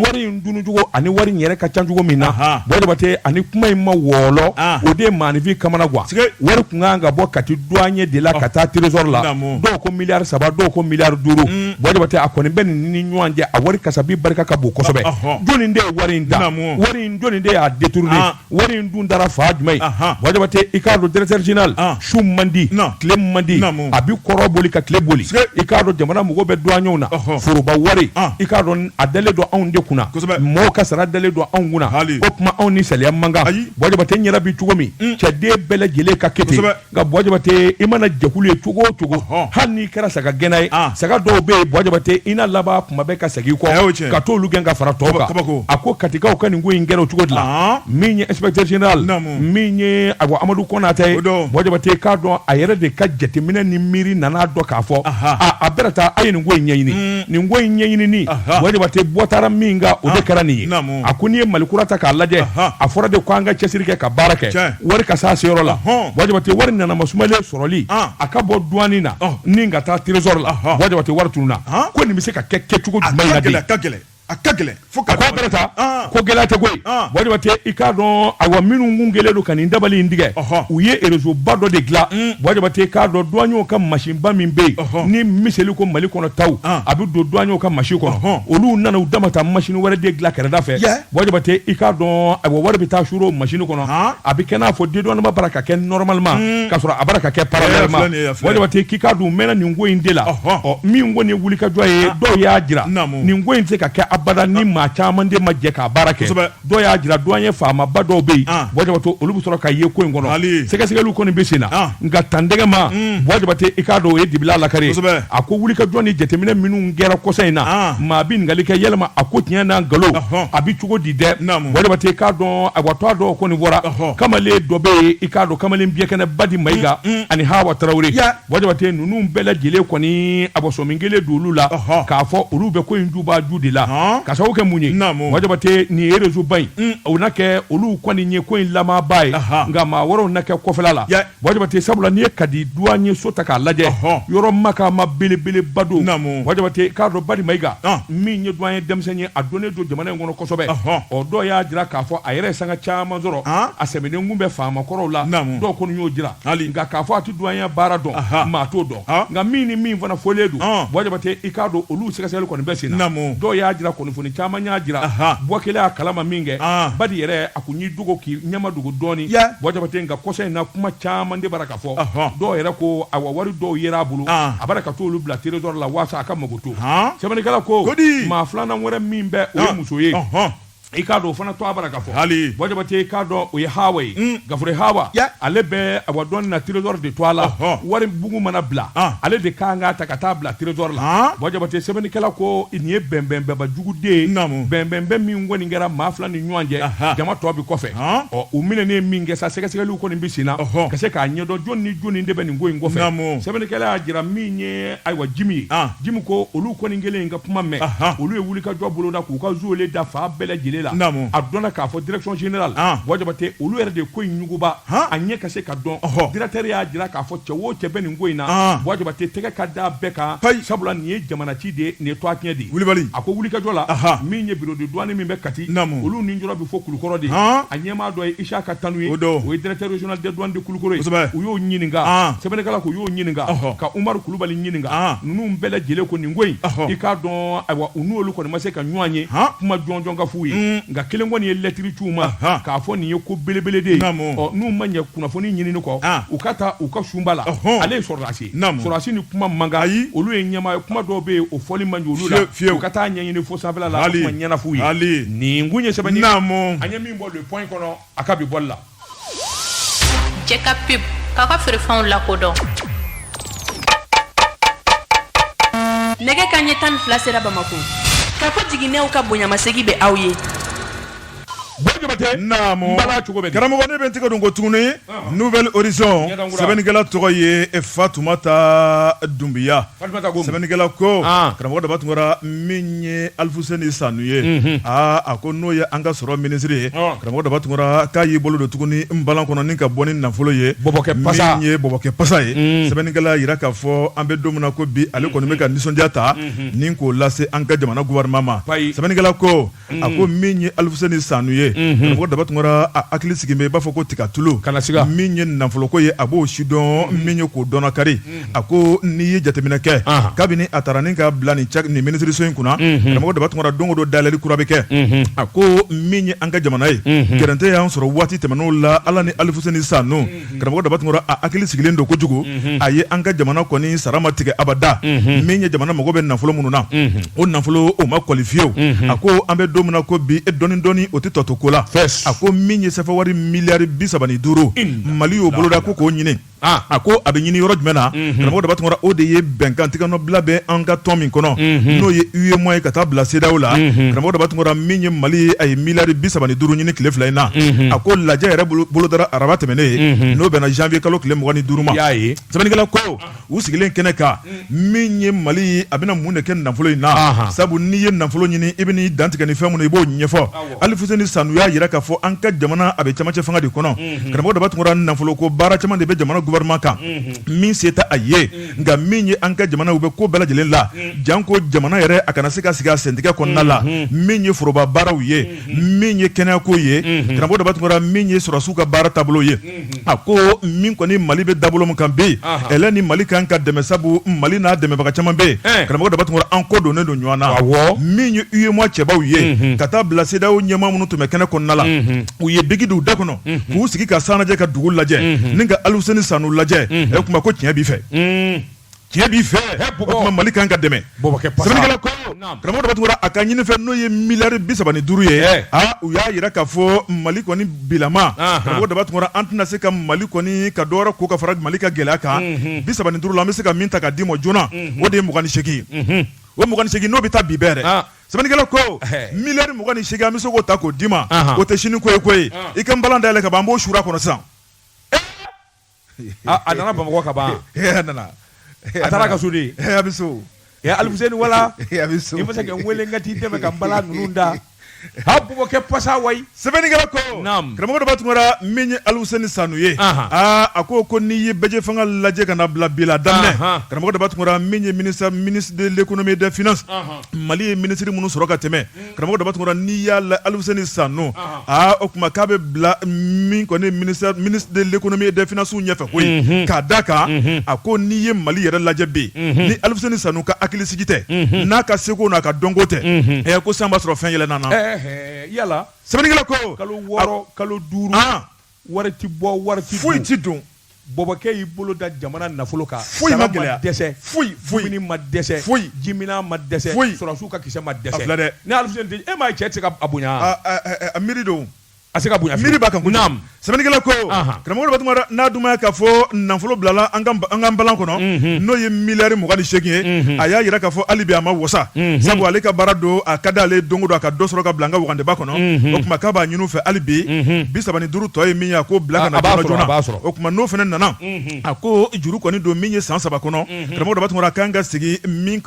wari in dunucogo ani wari in yɛrɛ ka ca cogo min na Buwa Jabate ani kuma in ma wɔɔlɔ ah. o de ye maaninfin kamanagan wari tun kan ka bɔ kati duwanye de la ka taa trésor la dɔw ko miliyari saba dɔw ko miliyari duuru mm. Buwa Jabate a kɔni bɛ nin ni ɲɔgɔn cɛ a wari kasabi barika ka bon kosɛbɛ jɔnni de ye wari in da wari in jɔnni de y'a détourner ah. wari in dun dara fan jumɛn Buwa Jabate i k'a dɔn directeur général su man di tile man di a bi kɔrɔn boli ka tile boli i k'a dɔn jamana mago bɛ duwanyew na foroba wari i k'a dɔn a dalen don anw de kunna mɔgɔw ka sara dalen don anw kunna o tuma anw ni saliya man kan Buwa Jabate yɛrɛ bi cogo min cɛden bɛɛ lajɛlen ka kɛ ten nka Buwa Jabate i mana jɛkulu ye cogo o cogo hali n'i kɛra saga gɛnna ye saga dɔw bɛ yen Buwa Jabate i na laban kuma bɛɛ ka segin i kɔ ka t'olu gɛn ka fara tɔw kan kabako a ko katikaw ka nin ko in kɛra o cogo de la min ye inspecteur général naamu min ye awa Amadu Kɔnatɛ ye o don Buwa Jabate i k'a dɔn a yɛrɛ de ka jateminɛ ni miiri nana dɔn k'a fɔ aa a bɛna taa a ye nin ko in ɲɛɲini nin ko in ɲɛɲinini Buwa Jabate bɔ taara min kan o de kɛra nin ye naamu a ko n'i ye mali kura ta k'a lajɛ a fɔra de ko an ka cɛsiri kɛ ka baara kɛ wari ka se seyɔrɔ la bɔ jabate wari nana masumalen sɔrɔli a ka bɔ duwanyi na ni ka taa trésor la bɔ jabate wari tununna ko nin bɛ se ka kɛ kɛcogo a ka gɛlɛn fo ka ta ko gɛlɛya tɛ koyi bɔ jabate i k'a dɔn awa minnu gɛlɛya don ka nin dabali in tigɛ u ye rezoba dɔ de dilan bɔ jabate ka don duwanyɛ ka masin ba min bɛ yen ni miseli ko mali kɔnɔta a bɛ don duwanyɛ ka masin kɔnɔ olu nana u dama ta masin wɛrɛ de dilan kɛrɛda fɛ bɔ jabate i k'a dɔn a wari bɛ taa o masin kɔnɔ a bɛ kɛ n'a fɔ dédouanement bara ka kɛ normalement ka sɔrɔ a bara ka kɛ k'i ka dun mɛn nin ko in de la ɔ min ko nin wulikajɔ ye dɔw y'a jira nin ko in tɛ se ka kɛ abada ni maa caman de ma jɛ k'a baara kɛ dɔw y'a jira duwanyɛ faamaba dɔw bɛ ah. yen bɔ jabate olu bɛ sɔrɔ ka ye ko in kɔnɔ sɛgɛsɛgɛli kɔni bɛ sen na ah. nka tantɛgɛma hmm. bɔ jabate i k'a dɔn o ye dibila lakari a ko wulikajɔ ni jateminɛ minnu kɛra kɔsa in na ah. maa bɛ ɲininkali kɛ yɛlɛma a ko tiɲɛ n'a nkalon a bɛ cogo di dɛ bɔ jabate i k'a dɔn awa towa dɔw kɔni bɔra kamalen dɔ bɛ yen i k'a dɔn kamalen bikɛnɛ badi mayiga hmm, hmm. ani hawa tarawele Bɔ jabate ninnu bɛɛ lajɛlen kɔni a bɔsɔn min kelen don olu la k'a fɔ olu bɛ ko in juba ju de la ka sababu kɛ mun ye bɔ jabate nin rezoba in o na kɛ olu kɔni ye ko in lamɔba ye nka maa wɛrɛw na kɛ kɔfɛ la bɔ jabate sabula n'i ye kati duwanyɛso ta k'a lajɛ yɔrɔ makama belebeleba don bɔ jabate k'a dɔn badi mayiga min ye duwanyɛ denmisɛnnin ye a dɔnnen don jamana in kɔnɔ kosɛbɛ ɔ dɔw y'a jira k'a fɔ a yɛrɛ sanga caman sɔrɔ a sɛmɛnen bɛ faama kɔrɔw la dɔw kɔni y'o jira hali k'a fɔ duwanyɛ baara dɔn maa t'o dɔn nka min ni min fana fɔlen don bɔ jabate i k'a dɔn olu sɛgɛsɛgɛli kɔni bɛ sen na dɔw y'a jira kunnafoni caman y'a jira bɔ kɛlen a kalama min kɛ badi yɛrɛ a kɔni y'i dogo k'i ɲɛmadogo dɔɔnin bɔ jabate nka kɔsa in na kuma caman de bara ka fɔ dɔw yɛrɛ ko awa wari dɔw yera a bolo a bara ka t'olu bila trésor la walasa a ka makoto sɛbɛnnikɛla ko maa filanan wɛrɛ min bɛ o ye muso ye i k'a dɔn o fana towa bara ka fɔ hali bɔ jabate i k'a dɔn o ye hawa ye mm. k'a fɔ hawa ale bɛ a duwanyi na trésor de towa la wari bugu mana bila ah. ale de kan k'a ta ka taa bila trésor la ah. bɔ jabate sɛbɛnnikɛla ko nin ye bɛnbɛnba jugu de ye bɛnbɛn min kɔni kɛra maa fila ni ɲɔgɔn cɛ jama tɔ bi kɔfɛ ah. ɔ u minɛnen min kɛ sa sɛgɛsɛgɛliw kɔni bi sen na ka se k'a ɲɛdɔn jɔni ni jɔni de bɛ nin ko in kɔfɛ sɛbɛnnikɛla y'a jira min ye ayiwa jimi ye jimi ko olu kɔni kɛlen in ka kuma mɛn olu ye wulikajɔ boloda k'u ka zuwele da fan bɛɛ lajɛlen la a dɔn k'a fɔ direction générale bɔ jabate olu yɛrɛ de ko in ɲuguba a ɲɛ ka se ka dɔn directeur y'a jira k'a fɔ cɛ wo cɛ bɛ nin ko in na bɔ jabate tɛgɛ ka da bɛɛ kan sabula nin ye jamana ci de nin ye towa tiɲɛ de kulubali a ko wulikajɔ la min ye bureau de douane min bɛ kati olu ni jɔ bɛ fo kulukɔrɔ de a ɲɛmaa dɔ ye isa ka tanu ye o ye directeur régional don dɛ u y'o ɲininka sɛbɛnnikɛla ko y'o ɲininka ka umaru kulubali ɲininka ninnu bɛɛ lajɛlen ko nin ko in i k'a dɔn ayiwa u n'olu kɔni ma se ka ɲɔgɔn ye kuma jɔnjɔn ka f'u ye nka kelen kɔni ye lɛtiri c'u ma k'a fɔ nin ye ko belebele de ye ɔ n'u ma ɲɛ kunnafoni ɲinini kɔ u ka taa u ka sunba la ale ye sɔrɔdasi sɔrɔdasi ni kuma man kan ayi olu ye ɲɛmaa ye kuma dɔw bɛ yen o fɔli man di olu la fiyewu u ka taa ɲɛɲini fo sanfɛla la a kuma ɲɛnama f'u ye nin tun ye sɛbɛnni ye nin tun ye sɛbɛnni ye an ye min bɔ le point kɔnɔ a ka bi bɔli la. Cɛ ka pep k'a ka feerefɛnw lakodɔn nɛgɛkanɲɛ tan ni fila sera bamakɔ kafo jiginɛw ka bonyamasegin bɛ aw ye karamɔgɔ ne bɛ n tɛgɛ don ko tuguni nouvel horizon sɛbɛnnikɛla tɔgɔ ye fatumata dunbiya sɛbɛnnikɛla ko karamɔgɔ daba tunkara min ye alifuseni sanu ye aaa a ko n'o ye an ka sɔrɔ minisiri ye karamɔgɔ daba tunkara k'a y'i bolo don tuguni n balan kɔnɔ ni ka bɔ ni nafolo ye min ye bɔkɛ pasa ye sɛbɛnnikɛla y'a jira k'a fɔ an bɛ don min na ko bi ale kɔni bɛ ka nisɔndiya ta ni k'o lase an ka jamana gofɛrɛnaman ma sɛbɛnnikɛla ko a ko min ye alifuseni sanu ye karamɔgɔ daba tunkara a hakili sigi i b'a fɔ ko tiga tulu kana min ye nafoloko ye a b'o sidɔn min ye k'o dɔn kari a ko n'i ye jateminɛ kɛ kabini a taara ni ka bila nin minisiriso in kunna karamɔgɔ daba tunkara don o don dalilu kura bɛ kɛ a ko min ye an ka jamana ye gɛrɛntɛ y'a sɔrɔ waati tɛmɛnenw la ala ni alifuseni sanu karamɔgɔ daba tunkara a hakili sigilen don kojugu a ye an ka jamana kɔni sara ma tigɛ abada min ye jamana mago bɛ nafolo minnu na o nafolo o ma kɔli fiyewu a ko an bɛ don min na ko bi dɔɔnin dɔɔnin o tɛ tɔ to ko la a ko min ye sefawari miliyari bi saba ni duuru mali y'o boloda ko k'o ɲini a ko a bɛ ɲini yɔrɔ jumɛn na karamɔgɔ daba tunkara o de ye bɛnkan tɛgɛnɔbila bɛ an ka tɔn min kɔnɔ n'o ye uemoa ye ka taa bila cedeao la karamɔgɔ daba tunkara min ye mali a ye miliyari bi saba ni duuru ɲini tile fila in na a ko lajɛ yɛrɛ bolodara araba tɛmɛnen ye n'o bɛnna zanwuye kalo tile mugan ni duuru ma y'a ye sɛbɛnnikɛla ko u sigilen kɛnɛ kan min ye mali a bɛna mun de kɛ nafolo in na sabu n'i ye nafolo ɲini i b'i dantigɛ ni fɛn minnu i b'o ɲɛfɔ alifuseni sanu y'a jira k'a fɔ an ka jamana a bɛ camancɛ fanga de kɔnɔ karamɔgɔ daba tunkara nafolo ko baara caman de bɛ jamana gofɛrɛnaman kan min se tɛ a ye nka min ye an ka jamana u bɛ ko bɛɛ lajɛlen la janko jamana yɛrɛ a kana se ka sigi a sentigɛ kɔnɔna la min ye foroba baaraw ye min ye kɛnɛyako ye karamɔgɔ daba tunkara min ye sɔrɔdasiw ka baara taabolo ye a ko min kɔni mali bɛ dabolo min kan bɛ yen ni mali kan ka dɛmɛ sabu mali n'a dɛmɛbaga caman bɛ yen karamɔgɔ daba tunkara an ko don ne don ɲɔgɔn na min ye uemoa cɛbaw ye ka taa bila cedeao ɲɛmaa minnu tun bɛ kɛnɛ kɔnɔna la u ye biki don u da kɔnɔ k'u sigi ka san lajɛ ka dugu lajɛ ni ka aluseni sanu lajɛ ɛ kuma ko tiɲɛ b'i fɛ tiɲɛ b'i fɛ kuma mali kan ka dɛmɛ sɛbɛnnikɛla ko karamɔgɔ tunkara a ka ɲini fɛ n'o ye miliyari bi saba ni duuru ye u y'a jira k'a fɔ mali kɔni bilama karamɔgɔ daba tunkara an tɛna se ka mali kɔni ka dɔw ko ka fara mali ka gɛlɛya kan bi saba duuru la an bɛ se ka min ta k'a d'i ma joona o de ye mugan ni seg o mugan ni segin n'o bɛ taa bi bɛɛrɛ Sɛbɛnnikɛlaw ko miliyari mugan ni segin a bɛ se k'o ta k'o d'i ma o tɛ sini koyi koyi i ka bala da yɛlɛ ka ban n b'o su kɔnɔ sisan a nana bamakɔ ka ban nana a taara ka sudi a bɛ so aluseni walayi a bɛ so i bɛ se k'a weele ka t'i dɛmɛ ka bala ninnu da a bɛ kɛ pasa wa Sɛbɛnnikɛla ko karamɔgɔ daba tunkara min ye aluseni sanu ye aa a ko ko n'i ye bɛɛjɛ fanga lajɛ ka bila bi la daminɛ karamɔgɔ daba tunkara min ye ministre de l'économie et des finances mali ye minisiri minnu sɔrɔ ka tɛmɛ karamɔgɔ daba tunkara n'i y'a la aluseni sanu aa o tuma k'a bɛ bila min kɔni ministre de l'économie et des finances ɲɛfɛ ko k'a da kan a ko n'i ye mali yɛrɛ lajɛ bi ni aluseni sanu ka hakilisigi tɛ n'a ka seko n'a ka dɔnko tɛ ɛ ko san b'a sɔrɔ fɛn yɛlɛ nana yala sɛbɛnnikɛla ko kalo wɔɔrɔ kalo duuru wari tɛ bɔ wari tɛ foyi tɛ don bɔbɔkɛ y'i bolo da jamana nafolo kan foyi ma gɛlɛya dɛsɛ foyi foyi ma dɛsɛ foyi jimina ma dɛsɛ foyi sɔrɔdasiw ka kisɛ ma dɛsɛ filɛ dɛ ni aluseni e m'a ye cɛ tɛ se ka a bonya a miiri don a se ka bonya miiri b'a kan ko naam Sɛbɛnnikɛla ko karamɔgɔ daba tunkara n'a dun ka fɔ nafolo bilala an ka bala kɔnɔ n'o ye miliyari mugan ni segin ye a y'a jira k'a fɔ halibi a ma wasa sabu ale ka baara don a ka di ale dɔnko don a ka dɔ sɔrɔ ka bila an ka wagandeba kɔnɔ o tuma k'a b'a ɲini fɛ hali bi bi saba ni duuru tɔ ye min ye a ko bila ka na don joona o tuma n'o fana nana a ko juru kɔni don min ye san saba kɔnɔ karamɔgɔ tun kan ka sigi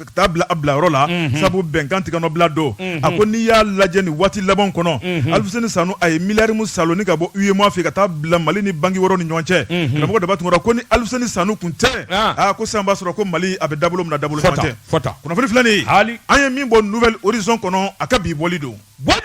ka taa bila a bila yɔrɔ la sabu bɛnkan tɛgɛnɔbila don a ko n'i y'a lajɛ ni waati laban kɔnɔ aluseni sanu a ye miliyari minnu saalo ni ka bɔ UEMOA fɛ ka taa bila mali ni banki wɔɔrɔ ni ɲɔgɔn cɛ karamɔgɔ daba tunkara ko ni aluseni sanu kun tɛ aa ko san b'a sɔrɔ ko mali a bɛ dabolo min na dabolo tɛ kunnafoni filɛ an ye min bɔ nouvel horizon kɔnɔ a ka bi bɔli don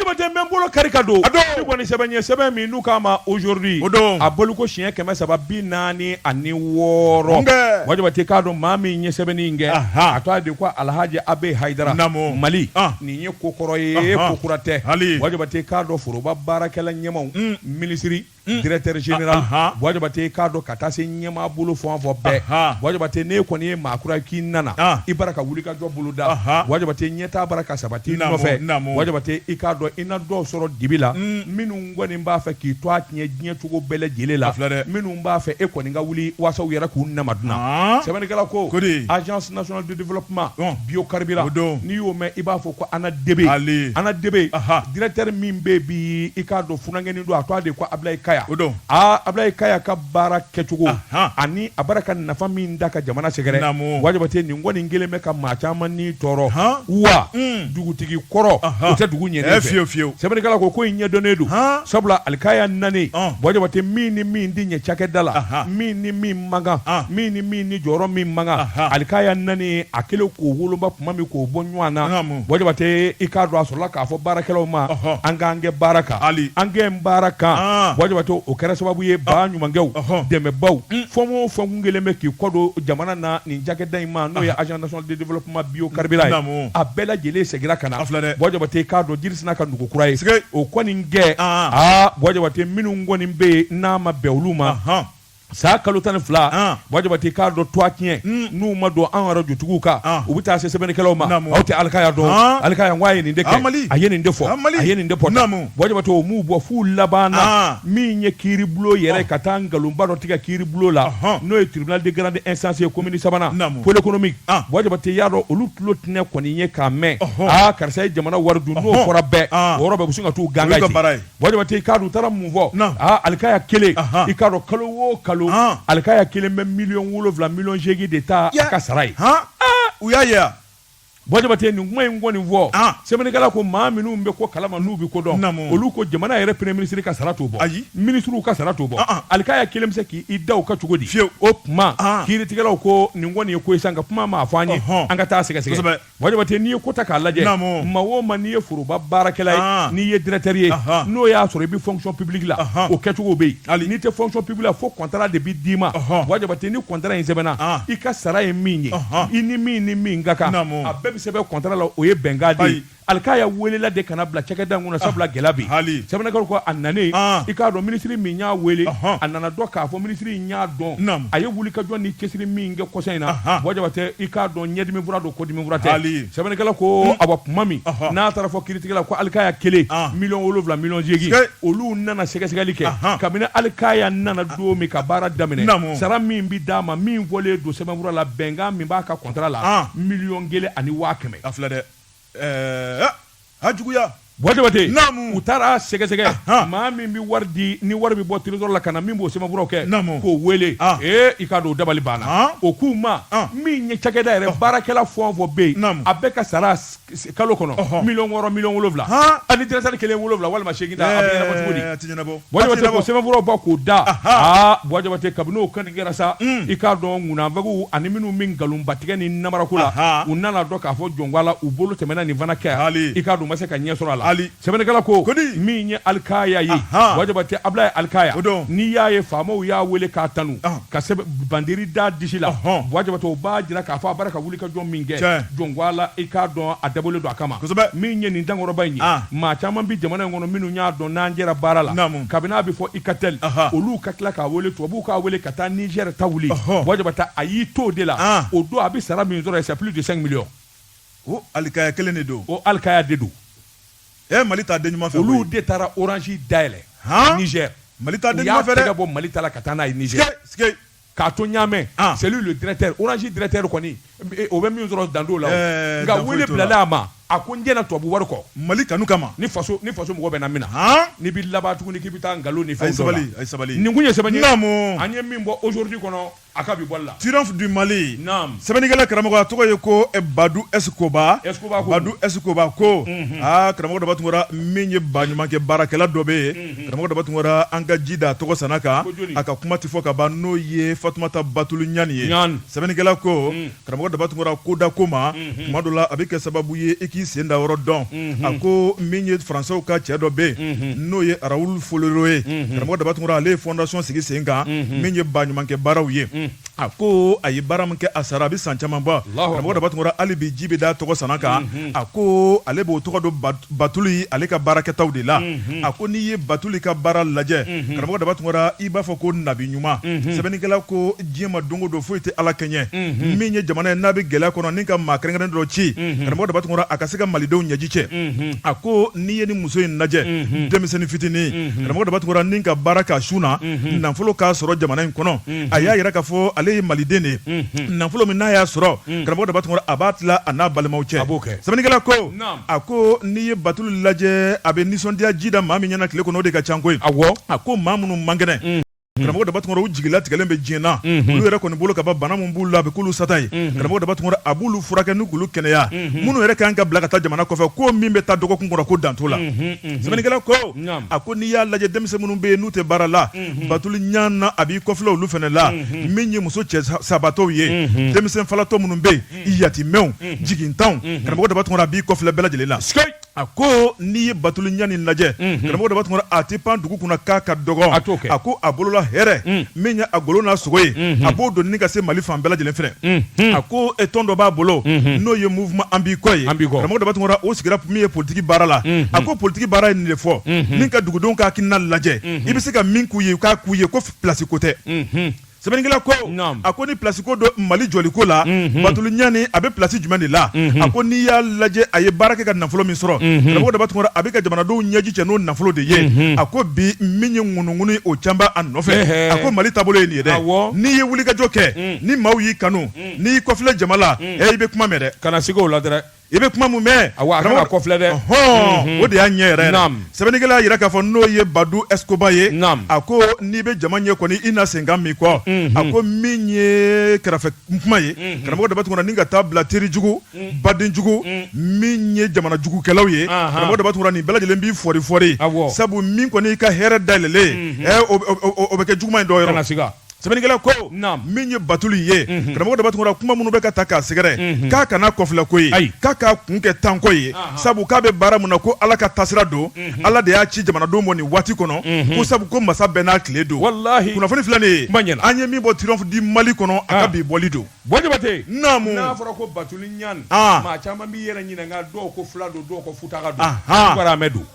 Jabatɛ bɛ bolo kari ka don a kɔni sɛbɛn ye sɛbɛn min n'u k'a ma aujourd'hui a bɔliko siɲɛ kɛmɛ saba bi naani ani wɔɔrɔ Boua Jabatɛ k'a dɔn maa min ye sɛbɛnni kɛ a tɔgɔ de ko alahaji a b haidara mali nin ye ko kɔrɔ ye ko kura tɛ Boua Jabatɛ k'a dɔn foroba baarakɛla ɲɛmaaw minisiriri Mm. directeur général ah, ah, ah. Boua Jabatɛ k'a dɔn ka taa se ɲɛmaa bolo fɔn fɔ bɛɛ Boua Jabatɛ n'e kɔni ye maa kura k'i nana i bara ka wuli ka jɔ bolo da Boua Jabatɛ ɲɛtaa bara ka sabati nɔfɛ Boua Jabatɛ i k'a dɔn i na dɔw sɔrɔ dibi la mm. minnu kɔni b'a fɛ k'i tɔgɔ tiɲɛ diɲɛ cogo bɛɛ lajɛlen la minnu b'a fɛ e kɔni ka wuli waasa u yɛrɛ k'u nama dunan sɛbɛnnikɛla ko agence nationale développement ɔn bio carburant o don n'i y'o mɛn i b'a fɔ ko ANADEB ale ANADEB aha directeur min bɛ bi i k'a dɔn funankɛnin don a tɔgɔ de ko Ablaye Kaya o don aa Ablaye Kaya ka baara kɛcogo aha ani a baara ka nafa min da ka jamana sɛgɛrɛ naamu Bwa Jabate nin kɔni kɛlen bɛ ka maa caman ni tɔɔrɔ han wa un dugutigi kɔrɔ aha o tɛ dugu ɲɛnen fɛ fiyewu fiyewu sɛbɛnnikɛla ko ko in ɲɛdɔnnen don han sabula Ali Kaya nanen ɔn Bwa Jabate min ni min tɛ ɲɛ cakɛda la aha min ni min man kan min ni min ni jɔyɔrɔ min man kan Ali Kaya nanen a kɛlen k'o woloma tuma min k'o bɔ ɲɔgɔn na Bwa Jabate i k'a dɔn a sɔrɔla k'a fɔ baarakɛlaw ma an k'an kɛ baara kan ali an kɛ n baara kan Bwa Jabate o kɛra sababu ye baɲumankɛw dɛmɛbaaw fɔ o fɛn kɛlen bɛ k'i kɔdon jamana na nin cakɛda in ma n'o ye azdsɔnbolo kuma bi karila ye a bɛɛ lajɛlen seginna ka na filɛ dɛ Jabate k'a dɔn jirisina ka dugu kura ye o kɔni gɛn Bwa Jabate minnu kɔni bɛ yen n'a ma bɛn olu ma San kalo tan ni fila Bwa Jabate k'a dɔn tɔgɔtiɲɛ n'u ma don arajo dɔw kan u bɛ taa se sɛbɛnnikɛlaw ma aw tɛ Ali Kaya dɔn ali ye nin a ye nin fɔ a ye nin de fɔ u bɔ fo laban min ye kiri bulon yɛrɛ ka taa nkalonba dɔ tigɛ kiri bulon la n'o ye tribunal de grande instance ye commune sabanan pôle économique Bwa Jabate y'a dɔn olu tulo tun kɔni ye k'a mɛn aa karisa ye jamana wari dun fɔra bɛɛ bɛ se ka taa ganga Jabate i ka u taara mun fɔ Ali Kaya kelen i k'a dɔn kalo wo kalo Ali Kaya kelen bɛ miliyɔn wolowula miliyɔn seegin de ta i ka sara ye Bwa Jabate nin kuma in kɔni nin fɔ sɛbɛnnikɛla ko maa minnu bɛ ko kalama n'u bɛ ko dɔn olu ko jamana yɛrɛ premier minisiri ka sara t'o bɔ ayi minisiriw ka sara t'o bɔ Ali Kaya kelen bɛ se k' i da ka cogo di fiyewu o tuma kiiritigɛlaw ko nin kɔni ye ko sisan ka kuma ma fɔ an ye an ka taa sɛgɛsɛgɛ Bwa Jabate n'i ye ko ta k'a lajɛ ma o ma n'i ye foroba baarakɛla ye n'i ye directeur ye n'o y'a sɔrɔ i bɛ fonction publique la o kɛcogo bɛ hali n'i tɛ fonction publique la fo kɔntara de bɛ d'i ma Bwa Jabate ni kɔntara in sɛbɛnna i ka sara ye min ye i ni min ni min ka kan a bɛɛ bɛ sɛbɛn kɔntara la o ye bɛnkan ye Ali Kaya weelela de ka na bila cakɛda kɔnɔ sabula gɛlɛya bi hali sɛbɛnnikɛla ko a nanen i k'a dɔn minisiri min y'a weele a nana dɔn k'a fɔ minisiri in y'a dɔn a ye wulikajɔ ni cɛsiri min kɛ kɔ kɔsɔn in na Bwa Jabate i k'a dɔn ɲɛdimifura don kɔdimifura tɛ sɛbɛnnikɛla ko a kuma min n'a taara fɔ kiritigɛla ko Ali Kaya kelen ah. miliyɔn wolowula miliyɔn seegin olu nana sɛgɛsɛgɛli kɛ kabini Ali Kaya nana don min ka baara daminɛ sara min bɛ d'a ma min fɔlen don sɛbɛnfura la bɛnkan min b'a ka kɔntara la ah. miliyɔn kelen ani waa kɛmɛ ɛɛ a Bwa Jabate u taara sɛgɛsɛgɛ maa min bɛ wari di ni wari bɛ bɔ trésor la ka na min b'o sɛbɛnkow kɛ k'o weele i k'a dɔn dabali banna o kuma min ye cakɛda yɛrɛ baarakɛla fɛn o fɛn bɛ yen a bɛɛ ka sara kalo kɔnɔ miliyɔn wɔɔrɔ miliyɔn wolowula ani directeur kelen wolowula walima seegin cogo Bajaba sɛbɛnforo ba k'o da aa buwa jabatɛ kabini o kɔni kɛra sa i k'a dɔn kunfɛ ani minnu min nkalonbatigɛ ni namarako la u nana dɔn k'a fɔ jɔn la u bolo tɛmɛna nin fana kɛ hali i ka ma se ka ɲɛ sɔrɔ a la hali sɛbɛnnikɛla ko ko min ye alikaya ye jabatɛ a ye alikaya dɔn n'i y'a ye faama y'a weele k'a tanu ka bandi da disi la baba b'a jira k'a fɔ a I ka jɔn min kɛ Tiɲɛ. jɔn ko a la i k'a dɔn a dabɔlen don a kama Kosɛbɛ. min ye nin dankɔrɔba in ye Ah. maa caman bi jamana in kɔnɔ minnu y'a dɔn n'an jɛra baara la Naamu. kabini a bɛ fɔ Ikatel Aha. olu ka tila k'a wele tubabuw k'a wele ka taa nizɛri ta wuli Ɔhɔ. buwa jabatɛ a y'i to o de la Ah. o don a bɛ sara min sɔrɔ c'est plus de 5 millions o alikaya kelen de don o alikaya de don ɛ mali t'a den ɲuman fɛ olu koyi. de taara orange dayɛlɛ Han? nizɛri mali t'a u den y'a ɲuman fɛ tɛgɛ dɛ bɔ mali ta la ka taa n'a ye nizɛri Sike, sike. k'a to ɲamɛ ah. c'est lui le directeur orange directeur kɔni eh, o bɛ min sɔrɔ dandow la eh, nka wele bilala a ma a ko n jɛna tubabu wari kɔ mali kanu kama ni faso ni faso mɔgɔ bɛ na min na ah. n'i bɛ laban tuguni k'i bɛ taa nkalon ni fɛn dɔ la sabali nin kun ye sɛbɛnni ye an ye min bɔ aujourd'hui kɔnɔ a ka bi bɔli la triomphe du mali naam sɛbɛnnikɛla karamɔgɔ a tɔgɔ ye ko eh, badu s koba s koba ko badu s koba ko mhm. aa ah, karamɔgɔ daba tunkara min ye baɲumankɛ baarakɛla dɔ bɛ yen mm. karamɔgɔ daba tunkara an ka ji da a tɔgɔ san kan a ka kuma tɛ fɔ ka ban n'o ye fatumata batuli ɲani ye sɛbɛnnikɛla ko mm. karamɔgɔ daba tunkara ko da ko ma mm-hmm. tuma dɔ la a bɛ kɛ sababu ye i k'i sen da yɔrɔ dɔn mm-hmm. a ko min ye faransaw ka cɛ dɔ bɛ yen mm-hmm. n'o ye Raoul Follereau ye karamɔgɔ daba tunkara ale ye fɔndasɔn sigi sen kan min ye baɲumankɛ baaraw ye A ko a ye baara min kɛ a sara a bɛ san caman bɔ karamɔgɔ daba tunkara hali bi ji bɛ da tɔgɔ san kan a ko ale b'o tɔgɔ don batuli ale ka baarakɛtaw de la a ko n'i ye batuli ka baara lajɛ karamɔgɔ daba tunkara i b'a fɔ ko nabi ɲuman sɛbɛnnikɛla ko diɲɛ maa dɔnko don foyi tɛ ala kɛɲɛ min ye jamana ye n'a bɛ gɛlɛya kɔnɔ ni ka maa kɛrɛnkɛrɛnnen dɔ ci karamɔgɔ daba tunkara a ka se ka malidenw ɲɛji cɛ a ko n'i ye nin muso in lajɛ denmisɛnnin fitinin karamɔgɔ daba tunkara ni ka baara ka sun na nafolo k'a sɔrɔ jamana in kɔnɔ a y'a yira k'a fɔ ale ye maliden de ye nafolo min n'a y'a sɔrɔ karamɔgɔ daba tunkara a b'a tila a n'a balimaw cɛ b'o kɛ sɛbɛnnikɛla ko a ko n'i ye batuli lajɛ a bɛ nisɔndiya ji da maa min ɲɛ na tile kɔnɔ o de ka ca koyi a ko maa minnu man kɛnɛ karamɔgɔ daba tunkara u jigilatigɛlen bɛ diɲɛ na olu yɛrɛ kɔni bolo ka bana min b'u la a bɛ k'olu sata ye karamɔgɔ daba tunkara a b'olu furakɛ ni k'olu kɛnɛya minnu yɛrɛ ka kan ka bila ka taa jamana kɔfɛ ko min bɛ taa dɔgɔkun kɔnɔ ko dan t'o la sɛbɛnnikɛla ko a ko n'i y'a lajɛ denmisɛn minnu bɛ yen n'u tɛ baara la batuli ɲani a b'i kɔfilɛ olu fana la min ye muso cɛ sabatɔw ye denmisɛn falatɔ minnu bɛ yen yatimɛw jigintanw karamɔgɔ daba tunkara a b'i kɔfilɛ bɛɛ lajɛlen la a ko n'i ye batuli ɲani lajɛ karamɔgɔ daba tunkara a tɛ pan dugu kunna k'a ka dɔgɔ a a ko a bolola hɛrɛ min ye a golo n'a sogo ye mhm. a b'o donni ka se mali fan bɛɛ lajɛlen fɛnɛ mhm. a ko e tɔn dɔ b'a bolo mhm. n'o ye mouvement an b'i kɔ ye bɔ jabate o sigira min ye politiki baara la a ko politiki baara ye nin de fɔ min ka dugudenw ka hakilina lajɛ i bɛ se ka min k'u ye k'a k'u ye ko pilasi ko tɛ sɛbɛnnikɛla ko a ko ni pilasi ko don mali jɔliko la batuli ɲan a bɛ pilasi jumɛn de la a ko n'i y'a lajɛ a ye baara kɛ ka nafolo min sɔrɔ bɔ jabate a bɛ ka jamanadenw ɲɛji cɛ n'o nafolo de ye a ko bi min ye ŋunu ŋ o caba a nɔfɛ a ko mali taabolo ye nin ye dɛ n'i ye wulikajɔ kɛ ni maaw y'i kanu n'i kɔfilɛ jama la i bɛ kuma mɛn kana na se o la dɛ i bɛ kuma min mɛn kɔfilɛ dɛ hɔn o de y'a ɲɛ yɛrɛ sɛbɛnnikɛla y'a jira k'a fɔ n'o ye badu escoba ye a ko n'i bɛ jama ɲɛ kɔni i na senkan mɛn kɔ a ko min ye kɛrɛfɛ kuma ye bɔ jabate ka taa bila terijugu badenjugu min ye jamana jugukɛlaw ye bɔ jabate nin bɛɛ lajɛlen b'i firifiri sabu min kɔni i ka hɛrɛ dalen o bɛ kɛ juguuma in dɔw yɔrɔ nasi sɛbɛnnikɛla ko min ye batuli ye bɔ jabate kuma minnu bɛ ka taa k'a sɛgɛrɛ k'a kana kɔfilɛ ko ayi k'a k'a kun kɛ tanko ye sabu k'a bɛ baara min na ko ala ka taasira don ala de y'a ci jamanadenw ma nin waati kɔnɔ ko sabu ko masa bɛɛ n'a tile don wala kunnafoni filɛ de ye ɲɛna an ye min bɔ triomphe du mali kɔnɔ a ka bi bɔli don Bɔ jabate n'a fɔra ko batuli ɲan maa caman b'i yɛrɛ ɲininka dɔw ko fila don dɔw ko futaka don jɔgɔramɛ don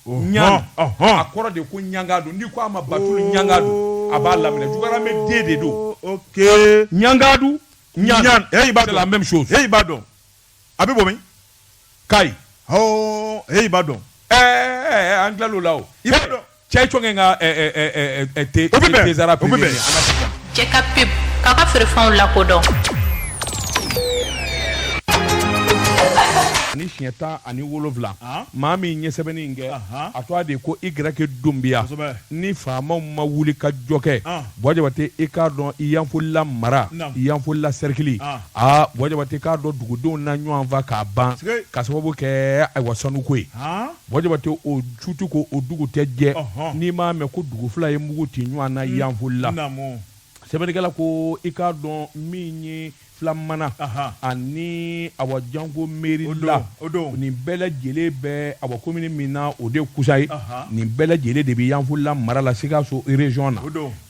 ɲan a kɔrɔ de ko ɲagadu n'i ko a ma batuli ɲagadu a b'a laminɛ jɔgɔramɛ den de don ɲagadu ɲan c'est la même chose i b'a dɔn a bɛ bɔ min kayi hɔɔ e b'a dɔn ɛɛ an tilala o la o i b'a dɔn cɛ cɔngɛ ka te o bɛ bɛn tezara o bɛ bɛn cɛ ka pep k'a ka feerefɛnw lakodɔn ani siɲɛ tan ani wolonfila maa min ye sɛbɛnni in kɛ a tɔɔ de ko i gɛrɛke dunbiya ni faamaw ma wulikajɔ kɛ bɔ jabate i k'a dɔn i yanfolila mara i yanfolila sɛrikili Aa bɔ jabate k'a dɔn dugudenw na ɲɔgɔn faa k'a ban ka sababu kɛ ayiwa sanuko ye bɔ jabate o su tɛ ko o dugu tɛ jɛ n'i m'a mɛn ko dugu fila ye mugu ci ɲɔgɔn na yanfolila sɛbɛnnikɛla ko i k'a dɔn min ye filamana ani a jankomerila o don nin bɛɛ lajɛlen bɛ a komini min na o de kusan ye nin bɛɛ lajɛlen de bɛ yanfolila mara la sikaso région na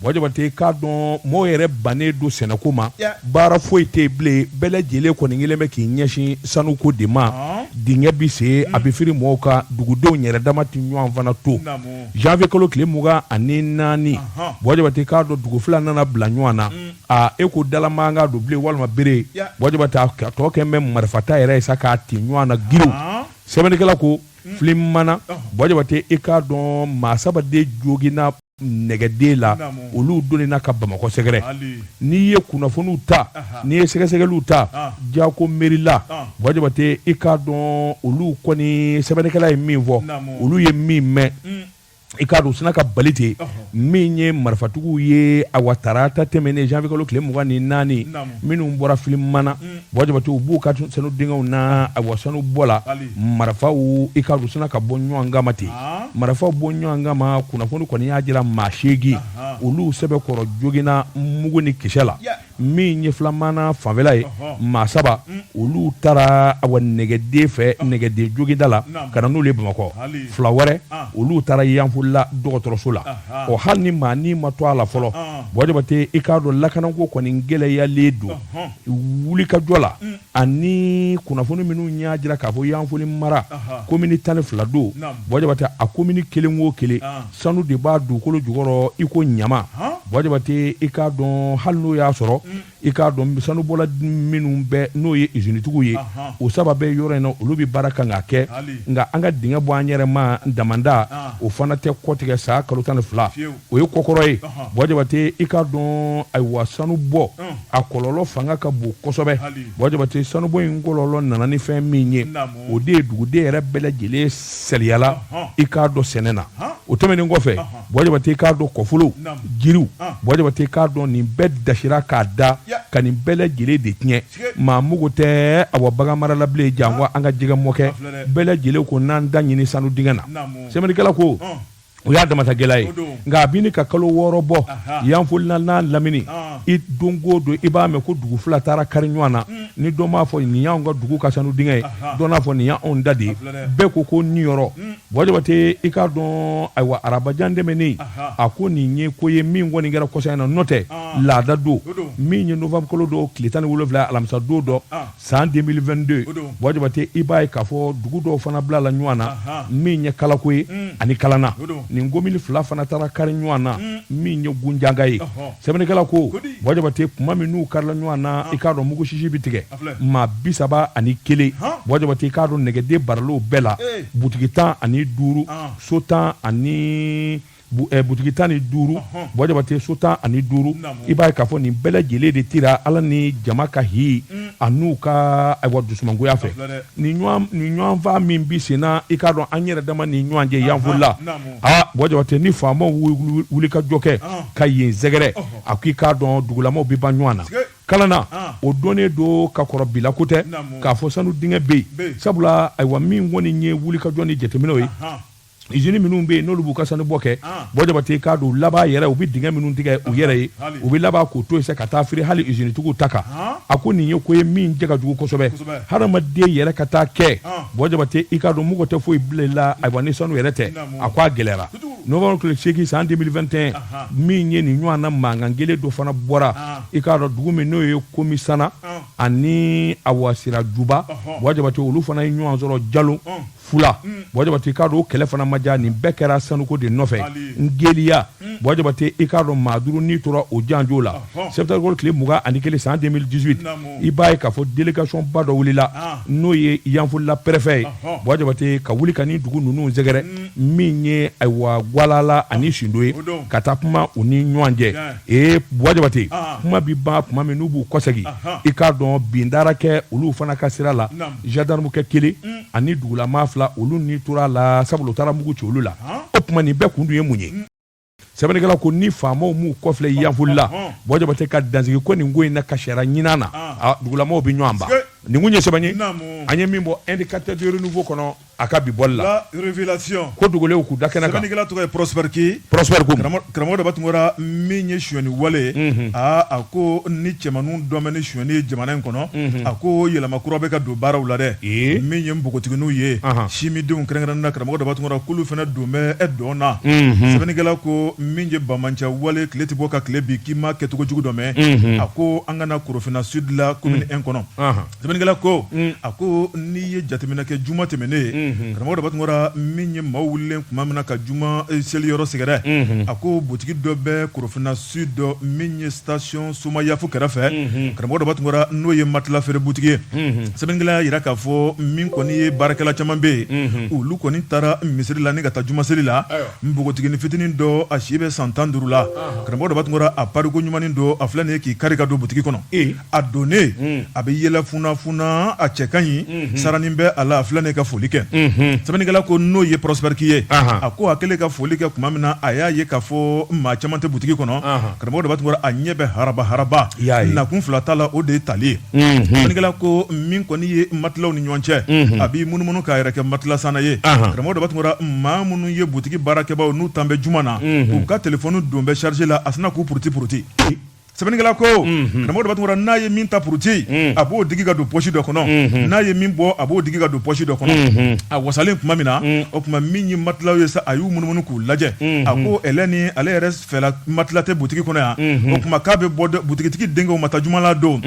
Bɔ jabate, i k'a dɔn mɔgɔ yɛrɛ bannen don sɛnɛko ma, ya, baara foyi tɛ yen bilen, bɛɛ lajɛlen kɔni kɛlen bɛ k'i ɲɛsin sanuko de ma, ɔn, dingɛ bɛ sen, un, a bɛ firi mɔgɔw kan, dugudenw yɛrɛ dama tɛ ɲɔgɔn fana to, naamu, janvier kalo tile mugan ani naani, ɔnhɔn, bɔ jabate, i k'a dɔn dugu fila nana bila ɲɔgɔn na, un, aa e ko da la mankan don bilen walima bere, ya, bɔ jabate a tɔ kɛlen bɛ marifata yɛrɛ ye sa k'a ci ɲɔgɔn na giriw, ɔn, sɛbɛnnikɛla ko, un, filamana, ɔnhɔn, bɔ jabate, i k'a dɔn maa saba de joginna nɛgɛden la olu don na ka bamakɔ sɛgɛrɛ n'i ye kunnafoniw ta n'i ye sɛgɛsɛgɛliw ta ja ko mɛri la bɔjabate i k'a dɔn olu kɔni sɛbɛnnikɛla ye min fɔ olu ye min mɛn mm. i k'a dɔn u sinna ka bali ten min ye marifatigiw ye awa tarata tɛmɛnen zanwuyekalo tile mugan ni naani minnu bɔra filamana mm. Bɔjabate u b'u ka sanu dingɛw na awa sanubɔla marifaw i k'a dɔn sinna ka bɔ ɲɔgɔn kama ten marifaw bɔ ɲɔgɔn kama kunnafoni kɔni y'a jira maa seegin olu sɛbɛkɔrɔ joginna mugu ni kisɛ la min ye filamana fanfɛla ye maa saba olu taara a nɛgɛden fɛ nɛgɛden jda la ka na n'u ye bamakɔ fila wɛrɛ olu taara yanfolila dɔgɔtɔrɔso la o hali ni maa ni ma to a la fɔlɔ bɔjabate i k'a dɔn lakana ko kɔni gɛlɛyalen don wuli ka jɔ la ani kunnafoni minnu y'a jira k'a fɔ yanfolila mara komini tan ni fila don bɔjabate a komini kelen o kelen sanu de b'a dugukolo jukɔrɔ i ko ɲama bɔjabate i k'a dɔn hali n'o y'a sɔrɔ mm. i k'a dɔn sanubɔla minnu bɛɛ n'o ye izinitigiw ye o saba bɛ yɔrɔ in na olu bɛ baara kan ka kɛ nka an ka dingɛ bɔ an yɛrɛ ma damanda o fana tɛ kɔtigɛ san kalo tan ni fila o ye ko kɔrɔ ye bɔjabate i k'a dɔn ayiwa sanu bɔ a kɔlɔlɔ fanga ka bon kosɛbɛ bɔjabate sanubɔ in kɔlɔlɔ nana ni fɛn min ye o de ye duguden yɛrɛ bɛɛ lajɛlen sariyayala i k'a dɔn sɛnɛ na o tɛmɛnen kɔfɛ bɔjabate i k'a dɔn kɔfolon jiriw bɔjabate i k'a dɔn nin bɛɛ dasira k'a da ka nin bɛɛ lajɛlen de tiɲɛ maa mugu tɛ a baganmara labilen janko an ka jɛgɛmɔn kɛ bɛɛ lajɛlen ko n'an da ɲini sanu dingɛ na sɛbɛnnikɛla ko o y'a damatagɛla ye nka a bɛ ɲini ka kalo wɔɔrɔ bɔ yanfolila n'a lamini i don o don i b'a mɛn ko dugu fila taara kari ɲɔgɔn na mm. ni dɔ b'a fɔ nin y'an ka dugu ka sanu dingɛ ye dɔ b'a fɔ nin y'anw ta de ye bɛɛ ko k'u niyɔrɔ mm. bɔjabate i k'a dɔn ayiwa araba don tɛmɛnen a ko nin ye ko ye min kɔni kɛra kɔsa in na n'o tɛ laada don min ye nowanburukalo don tile tan ni wolowula alamisa don dɔ san 2022 o don bɔjabate i b'a ye k'a fɔ dugu dɔw fana bilala ɲɔgɔn na Ahan. min ye kalako ye Mm. ani kalana O don. nin komini fila fana taara kari ɲɔgɔn na Mm. min ye gunjanga ye Ɔhɔ. sɛbɛnnikɛla ko Ko di? bɔjabate kuma min n'u karila ɲɔgɔn na i k'a dɔn mugu sisi bɛ tigɛ A filɛ. maa bi saba ani kelen Han. bɔjabate i k'a dɔn nɛgɛden bɔra olu bɛɛ la Ee. butigi tan ani duuru Ah. so tan ani Eh, butigi tan ni duuru bɔjabate so tan ani duuru i b'a ye k'a fɔ nin bɛɛ lajɛlen de cira ala ni jama ka hi mm. a n'u ka ayiwa dusumangoya fɛ ni ɲɔgɔnfa min bɛ senna i k'a dɔn an yɛrɛ dama ni ɲɔgɔn cɛ yanfolila aa bɔjabate ni faama wuli ka jɔ kɛ ka yen sɛgɛrɛ a ko i k'a dɔn dugulama bɛ ban ɲɔgɔn na kalana ah. o donnen don ka kɔrɔ bi la ko tɛ k'a fɔ sanu dingɛ bɛ yen sabula ayiwa min kɔni ye wuli ka jɔ ni jateminɛw ye izini minnu bɛ yen n'olu b'u ka sanu bɔ kɛ bɔn jabate i k'a dɔn laban yɛrɛ u bɛ dingɛ minnu tigɛ u yɛrɛ ye u bɛ laban k'u tɔ cɛ ka taa feere hali izinitigiw ta kan a ko nin ye ko ye min cɛ ka jugu kosɛbɛ hadamaden yɛrɛ ka taa kɛ bɔn jabate i k'a dɔn mɔgɔ tɛ foyi bila a ni sanu yɛrɛ cɛ a k' a gɛlɛyara n tile segin san denfɛnte min ye nin ɲɔgɔn na mankan kelen dɔ fana bɔra i k'a dɔn dugu min n'o ye komisana ani a sirajuba bɔn jabate olu fana ye ɲɔgɔn sɔrɔ jalo fula mm. bɔn jabate i k'a dɔn o kɛlɛ fana ma diya nin bɛɛ kɛra sanuko de nɔfɛ n geliya mm. bɔn jabate i k'a dɔn maa duuru ni tora o janjo la sɛtanburukalo tile mugan ani kelen san 2018 i b'a ye k'a fɔ delegation ba dɔ wulila ah. n'o ye yanfolila pɛrɛfɛ ye bɔn jabate ka wuli ka na dugu ninnu sɛgɛrɛ mm. min ye ayiwa gwalala ani ah. sindo ye ka taa kuma u ni ɲɔgɔn cɛ ee bɔn jabate ah. kuma bɛ ban tuma min n'u b'u kɔsɛgi i k'a dɔn bindara kɛ olu fana ka sira la gendarme kɛ kelen ani dugulama fila olu ni tora la sabu u taara mugu ci olu la o tuma nin bɛɛ kun dun ye mun ye sɛbɛnnikɛla ko ni faamaw m'u kɔfilɛ yanfolila bɔn jabate ka dansigi ko nin ko in na kasiyara ɲinan na dugulamaw bɛ ɲɔgɔn ban nin kun ye sɛbɛn ye an ye min bɔ Indicateur du Renouveau kɔnɔ a ka bi bɔli la ko dogolenw k'u da kɛnɛ kan sɛbɛnnikɛla tɔgɔ ye Prospère karamɔgɔ daba tungara min ye sonyɛni wale aaa a ko ni cɛmanw dɔnna ni sonyɛni ye jamana in kɔnɔ a ko yɛlɛma kura bɛ ka don baaraw la dɛ min ye npogotigininw ye sinmindenw kɛrɛnkɛrɛnna karamɔgɔ daba tungara k'olu fana don bɛ don dɔ la sɛbɛnnikɛla ko min ye banbaanci wale tile tɛ bɔ ka tile bi k'i ma kɛcogo jugu dɔ mɛn a ko an ka na korofinna sudi la commune un kɔnɔ Sɛbɛnnikɛla ko a ko n'i ye jateminɛ kɛ juma tɛmɛnen ye karamɔgɔ daba tungara min ye maaw wulilen tuma min na ka juma seli yɔrɔ sɛgɛrɛ a ko butigi dɔ bɛ korofinna sudi min ye station somayafu kɛrɛfɛ karamɔgɔ daba tungara n'o ye matila feere butigi ye sɛbɛnnikɛla y'a jira k'a fɔ min kɔni ye baarakɛla caman bɛ yen olu kɔni taara misiri la ni ka taa juma seli la npogotiginin fitinin dɔ a si bɛ san tan duuru la karamɔgɔ daba tungara a pari koɲumannen don a filɛ nin ye k'i kari ka don butigi kɔnɔ a donnen hmm. a bɛ yɛlɛ funafuna a cɛ ka ɲi hmm. saranin bɛ a la a filɛ ne ka foli kɛ hmm. sɛbɛnnikɛla ko n'o ye Prospère Ky ye a ko a kɛlen ka foli kɛ tuma min na a y'a ye k'a fɔ maa caman tɛ butigi kɔnɔ karamɔgɔ daba tungara a ɲɛ bɛ haraba haraba nakun fila t'a la o de ye tali ye sɛbɛnnikɛla ko min kɔni ye matilaw ni ɲɔgɔn cɛ a b'i munumunu k'a yɛrɛ kɛ matilasanna ye karamɔgɔ daba tungara maa minnu ye butigi baarakɛbaaw n'u tun bɛ juma na u ka telefɔni dun bɛ charge la a sinna k'u puruti puruti sɛbɛnnikɛla ko karamɔgɔ daba tunkara n'a ye min ta puruti a b'o digi ka don pɔsi dɔ kɔnɔ n'a ye min bɔ a b'o digi ka don pɔsi dɔ kɔnɔ a wasalen tuma min na o tuma min ye matilaw ye sa a y'u munumunu k'u lajɛ a ko ni ale yɛrɛ fɛ matila tɛ butigi kɔnɔ yan o tuma k'a bɛ bɔ butigitigi denkɛ ma taa juma la don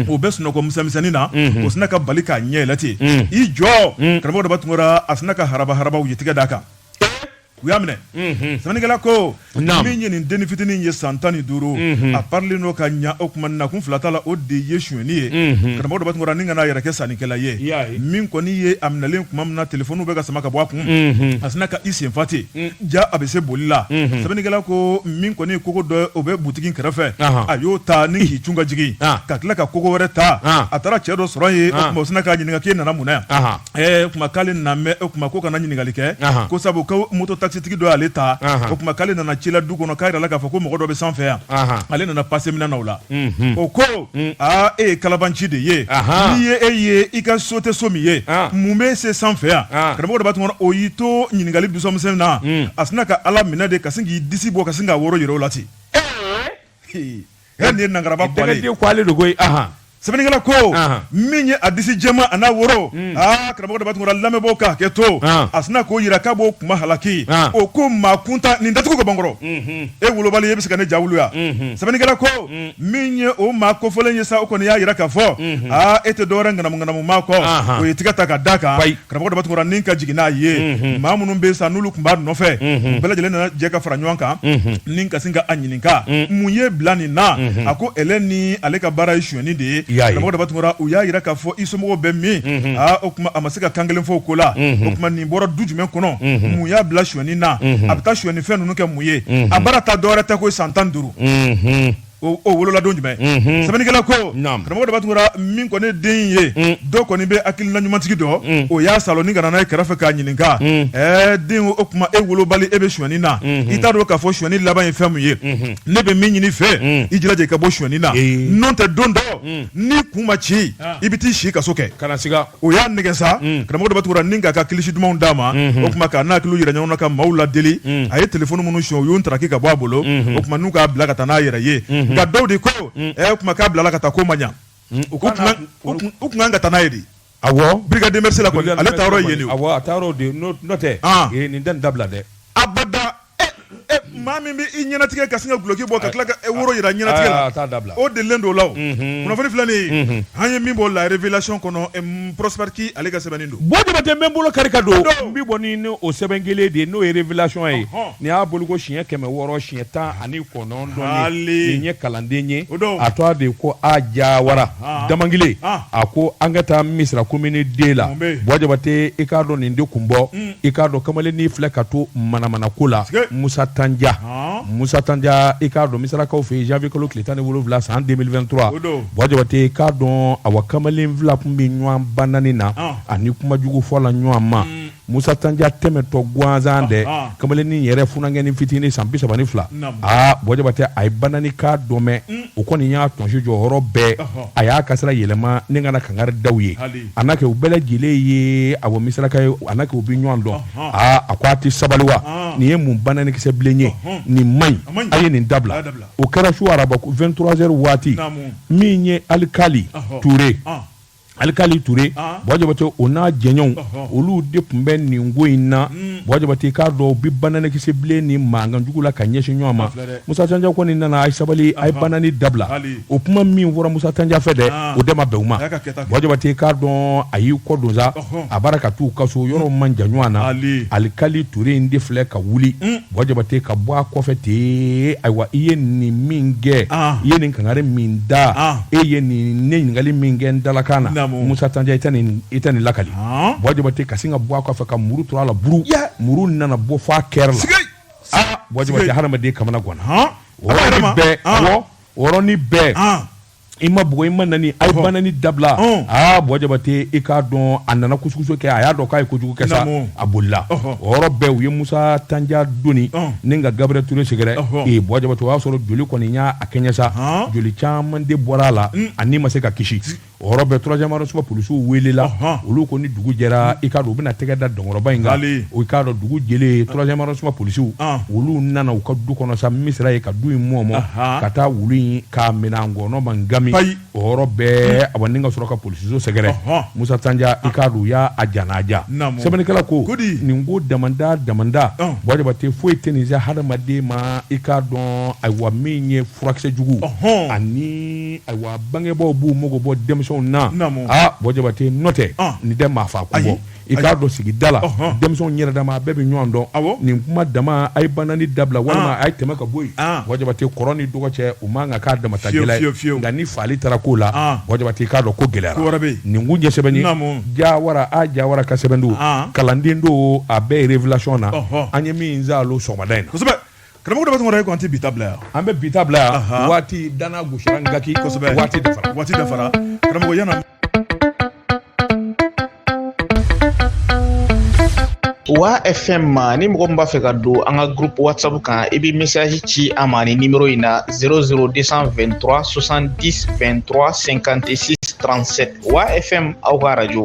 o bɛ sunɔgɔ misɛnmisɛnnin na o sina ka bali k'a ɲɛ yɛlɛ ten i jɔ karamɔgɔ daba tunkara a sina ka harabaharaba o ye tɛgɛ d'a kan u y'a minɛ sɛbɛnnikɛla ko min ye nin den fitinin ye san tan ni duuru a parelen don ka ɲɛ o tuma na kun fila t'a la o de ye sonni ye karamɔgɔ daba tunkara ni ka n'a yɛrɛ kɛ sannikɛla ye min kɔni ye a minɛlen tuma min na telefɔni bɛ ka sama ka bɔ a kun a sina ka i sen fa ten jaa a bɛ se boli la sɛbɛnnikɛla ko min kɔni kogo dɔ bɛ butigi kɛrɛfɛ a y'o ta ni k'i cun ka jigin ka tila ka kogo wɛrɛ ta a taara cɛ dɔ sɔrɔ yen o sina k'a ɲininka k'i nana mun o tuma k'ale na o tuma ko kana ɲininkali kɛ ko sabu ko moto takisitigi dɔ y'ale ta o tuma k'ale nana ci la du kɔnɔ k'a jirala k'a fɔ ko mɔgɔ dɔ bɛ sanfɛ yan ale nana pase min na o la o ko aa e ye kalabanci de ye n'i ye e ye i ka so tɛ so min ye mun bɛ se sanfɛ yan karamɔgɔ daba tunkara o y'i to ɲininkali misɛnmisɛn na a sina ka ala minɛ de ka sin k'i disi bɔ ka sin k'a woro jira o la ten E de ye nangaraba ko sɛbɛnnikɛla ko min ye a disi jɛman a n'a woro aa karamɔgɔ daba tunkara lamɛnbaaw ka hakɛ to a sina k'o jira k'a b'o kuma halaki o ko maa kuntan nin datugu ka bankɔrɔ e wolobali e bɛ se ka ne ja wuli yan sɛbɛnnikɛla ko min ye o maa kofɔlen ye sa o kɔni y'a jira ka fɔ aa e tɛ dɔwɛrɛ ŋanamuŋanamu maa kɔ o ye tɛgɛ ta ka da kan Karamɔgɔ daba tunkara ni ka jigin n'a ye maa minnu bɛ sa n'olu tun b'a nɔfɛ bɛɛ lajɛlen nana jɛ ka fara ɲɔgɔn kan ni ka se ka a ɲininka mun y'i bila nin na a ko e ni ale ka baara ye sonni de ye karamɔgɔ daba tunkara u y'a jira k'a fɔ i somɔgɔw bɛ min o tuma a ma se ka kan kelen fɔ ko la o tuma nin bɔra du jumɛn kɔnɔ mun y'a bila sonni na a bɛ taa sonni fɛn ninnu kɛ mun ye a baara ta dɔwɛrɛ tɛ ko san tan duuru wolola don jumɛn sɛbɛnnikɛla ko karamɔgɔ daba tunkara min kɔni ye den ye dɔ kɔni bɛ hakilila ɲumantigi don o y'a saalo ni ka na n'a ye kɛrɛfɛ k'a ɲininka den o tuma e wolobali e bɛ sonni na i t'a dɔn k'a fɔ sonni laban ye fɛn min ye ne bɛ min ɲini i fɛ i jilaja i ka bɔ sonni na n'o tɛ don dɔ n'i kun ma ci i bɛ taa si kaso kɛ u y'a nɛgɛn sa mm. karamɔgɔ daba tunkara ni ka ka kilisi dumanw d'a ma mm-hmm. o tuma ka na hakili jira ɲɔgɔn na ka maaw ladeli mm. a ye telefɔni minnu sonya u y'u ntaraki ka bɔ a bolo mm-hmm. o tuma n'u k'a bila ka taa n'a yɛrɛ ye mm-hmm. nka dɔw de ko mm. ɛ o tuma k'a bilala ka taa k'o ma ɲa u tun kan ka taa n'a ye de awɔ brigade mœurs la kɔni ale taa yɔrɔ ye nin ye awɔ a taa yɔrɔ de n'o tɛ ah. nin tɛ nin dabila dɛ abada Maa min bɛ i ɲɛnatigɛ ka sin ka duloki bɔ ka tila ka woro jira ɲɛnatigɛ la, a t'a dabila, o delilen don o la wo, unhun, kunnafoni filɛ nin ye an ye min bɔ La Revelation kɔnɔ Prospɛri Ki ale ka sɛbɛnni don, Bɔ Jabatɛ n bɛ n bolo kari ka don n bɛ bɔ ni o sɛbɛn kelen de ye n'o ye revelation ye nin y'a bɔli ko siɲɛ kɛmɛ wɔɔrɔ siɲɛ tan ani kɔnɔntɔn ye nin ye kalanden ye a tɔgɔ de ye ko A Jawara damankile a ko an ka taa misira komini deux la bɔjabate i k'a dɔn nin tɛ kun bɔ i k'a dɔn kamalennin filɛ ka to manamana ko la musa tanja musa tanja i k'a dɔn misirakaw fɛ janvier kalo tile tan ni wolowula san 2023 bɔjabate i k'a dɔn a wa kamalen fila tun bɛ ɲɔgɔn banani na ani kuma jugu fɔ la ɲɔgɔn ma Musa Tanja tɛmɛtɔ gansan dɛ, anhan, kamalennin yɛrɛ funankɛnin fitinin san bi saba ni fila, naamu, aa Bɔ Jabatɛ a ye banani kan dɔ mɛn, un, o kɔni y'a tɔnsi jɔ yɔrɔ bɛɛ, ɔhɔ, a y'a ka sira yɛlɛma ni ka na kangari da u ye, hali, a na kɛ u bɛɛ lajɛlen ye awɔ misiraka ye, a na kɛ u bɛ ɲɔgɔn dɔn, ɔnhɔn, aa a ko a tɛ sabali wa, ɔnhɔn, nin ye mun bananikisɛ bilen ye, ɔnhɔn, nin man ɲi, a man ɲi, a ye nin dabila, a y'a dabila, o kɛra su araba 23 heures waati, naamu, min ye alikali, ɔhɔ, Ture, ɔn. alikali ture bɔjabate o n'a jɛɲɔgɔnw olu de tun bɛ nin ko in na mm. bɔjabate k'a dɔn bi bananikisɛbilen ni mankan jugu la ka ɲɛsin ɲɔgɔn ma musa tanja kɔni nana a ye sabali a ye banani dabila o kuma min fɔra musa tanja fɛ dɛ ah. o de ma bɛn u ma bɔjabate k'a dɔn a y'i kɔ don sa a b'a la ka t'u ka so yɔrɔ man jan ɲɔgɔn na alikali ture in de filɛ ka wuli mm. bɔ jabate ka bɔ a kɔfɛ ten ayiwa i ye nin min kɛ ah. i ye nin kangari min da ah. e ye nin ne ɲininkali min kɛ n dalakan na musa tanja i tɛ nin i tɛ nin lakali ah. bɔ jabate ka sin ka bɔ a kɔfɛ ka muru turu a la buru muru nana bɔ fɔ a kɛrɛ la bɔ jabate hadamaden kamana ganna o yɔrɔnin bɛɛ o yɔrɔnin bɛɛ i ma bugɔ i ma nani a banani dabila aa bɔ jabatɛ i k'a dɔn a nana kususo kɛ a y'a dɔn k'a ye kojugu kɛ a bolila o bɛɛ u ye musa tanja doni ka gabriel ture sɛgɛrɛ ee bɔ jabatɛ o y'a sɔrɔ joli kɔni y'a kɛɲɛ sa joli caman de bɔra a la a ni ma se ka kisi o bɛɛ troisième arrondissement polisiw weelela olu ko ni dugu jɛra i ka u bɛna tɛgɛ da dɔnkɔrɔba in i k'a dɔn dugu jɛlen troisième arrondissement polisiw olu nana u ka du kɔnɔ sa misira ka du in mɔ ma ka taa wulu in k'a minɛ an kɔnɔ ma ngami ayi o yɔrɔ bɛɛ hmm. a ni ka sɔrɔ ka polisiso sɛgɛrɛ musa tanja ah. i k'a dɔn u y'a a jana a ja sɛbɛnnikɛla ko nin ko damanda damanda ah. bɔjabate foyi tɛ nin se hadamaden ma i k'a dɔn ayiwa min ye furakisɛ jugu ani ayiwa bangebaaw b'u mago bɔ denmisɛnw na a ah, bɔjabate n'o tɛ nin tɛ maa faa kun bɔ i k'a dɔn sigi da la denmisɛn yɛrɛ dama a bɛɛ bɛ ɲɔgɔn dɔn nin kuma dama a ye ban ni dabila walima a ye tɛmɛ ka bɔ yente kɔrɔ ni dɔgɔ cɛ u ma kan'a dama fiye nka ni faali taara ko la k'a dɔn ko gɛlɛya nin ko ɲɛ ja wara a jayara ka sɛbɛn don kalanden don a bɛɛ yɛrɛ filatiɔn na an ye min zan sɔgɔmada in kosɛbɛ karamɔgɔ bɛtɛ tɛ bi bila yan an bɛ bi bila yan waati dan gosisɔ kaki waati waati karamɔgɔ wa fm ma ni mɔgɔ min b'a fɛ ka don an ka groupe whatsapp kan i bɛ message ci an ma nin nimero in na 00223 70 23 56 37 wa fm aw ka radio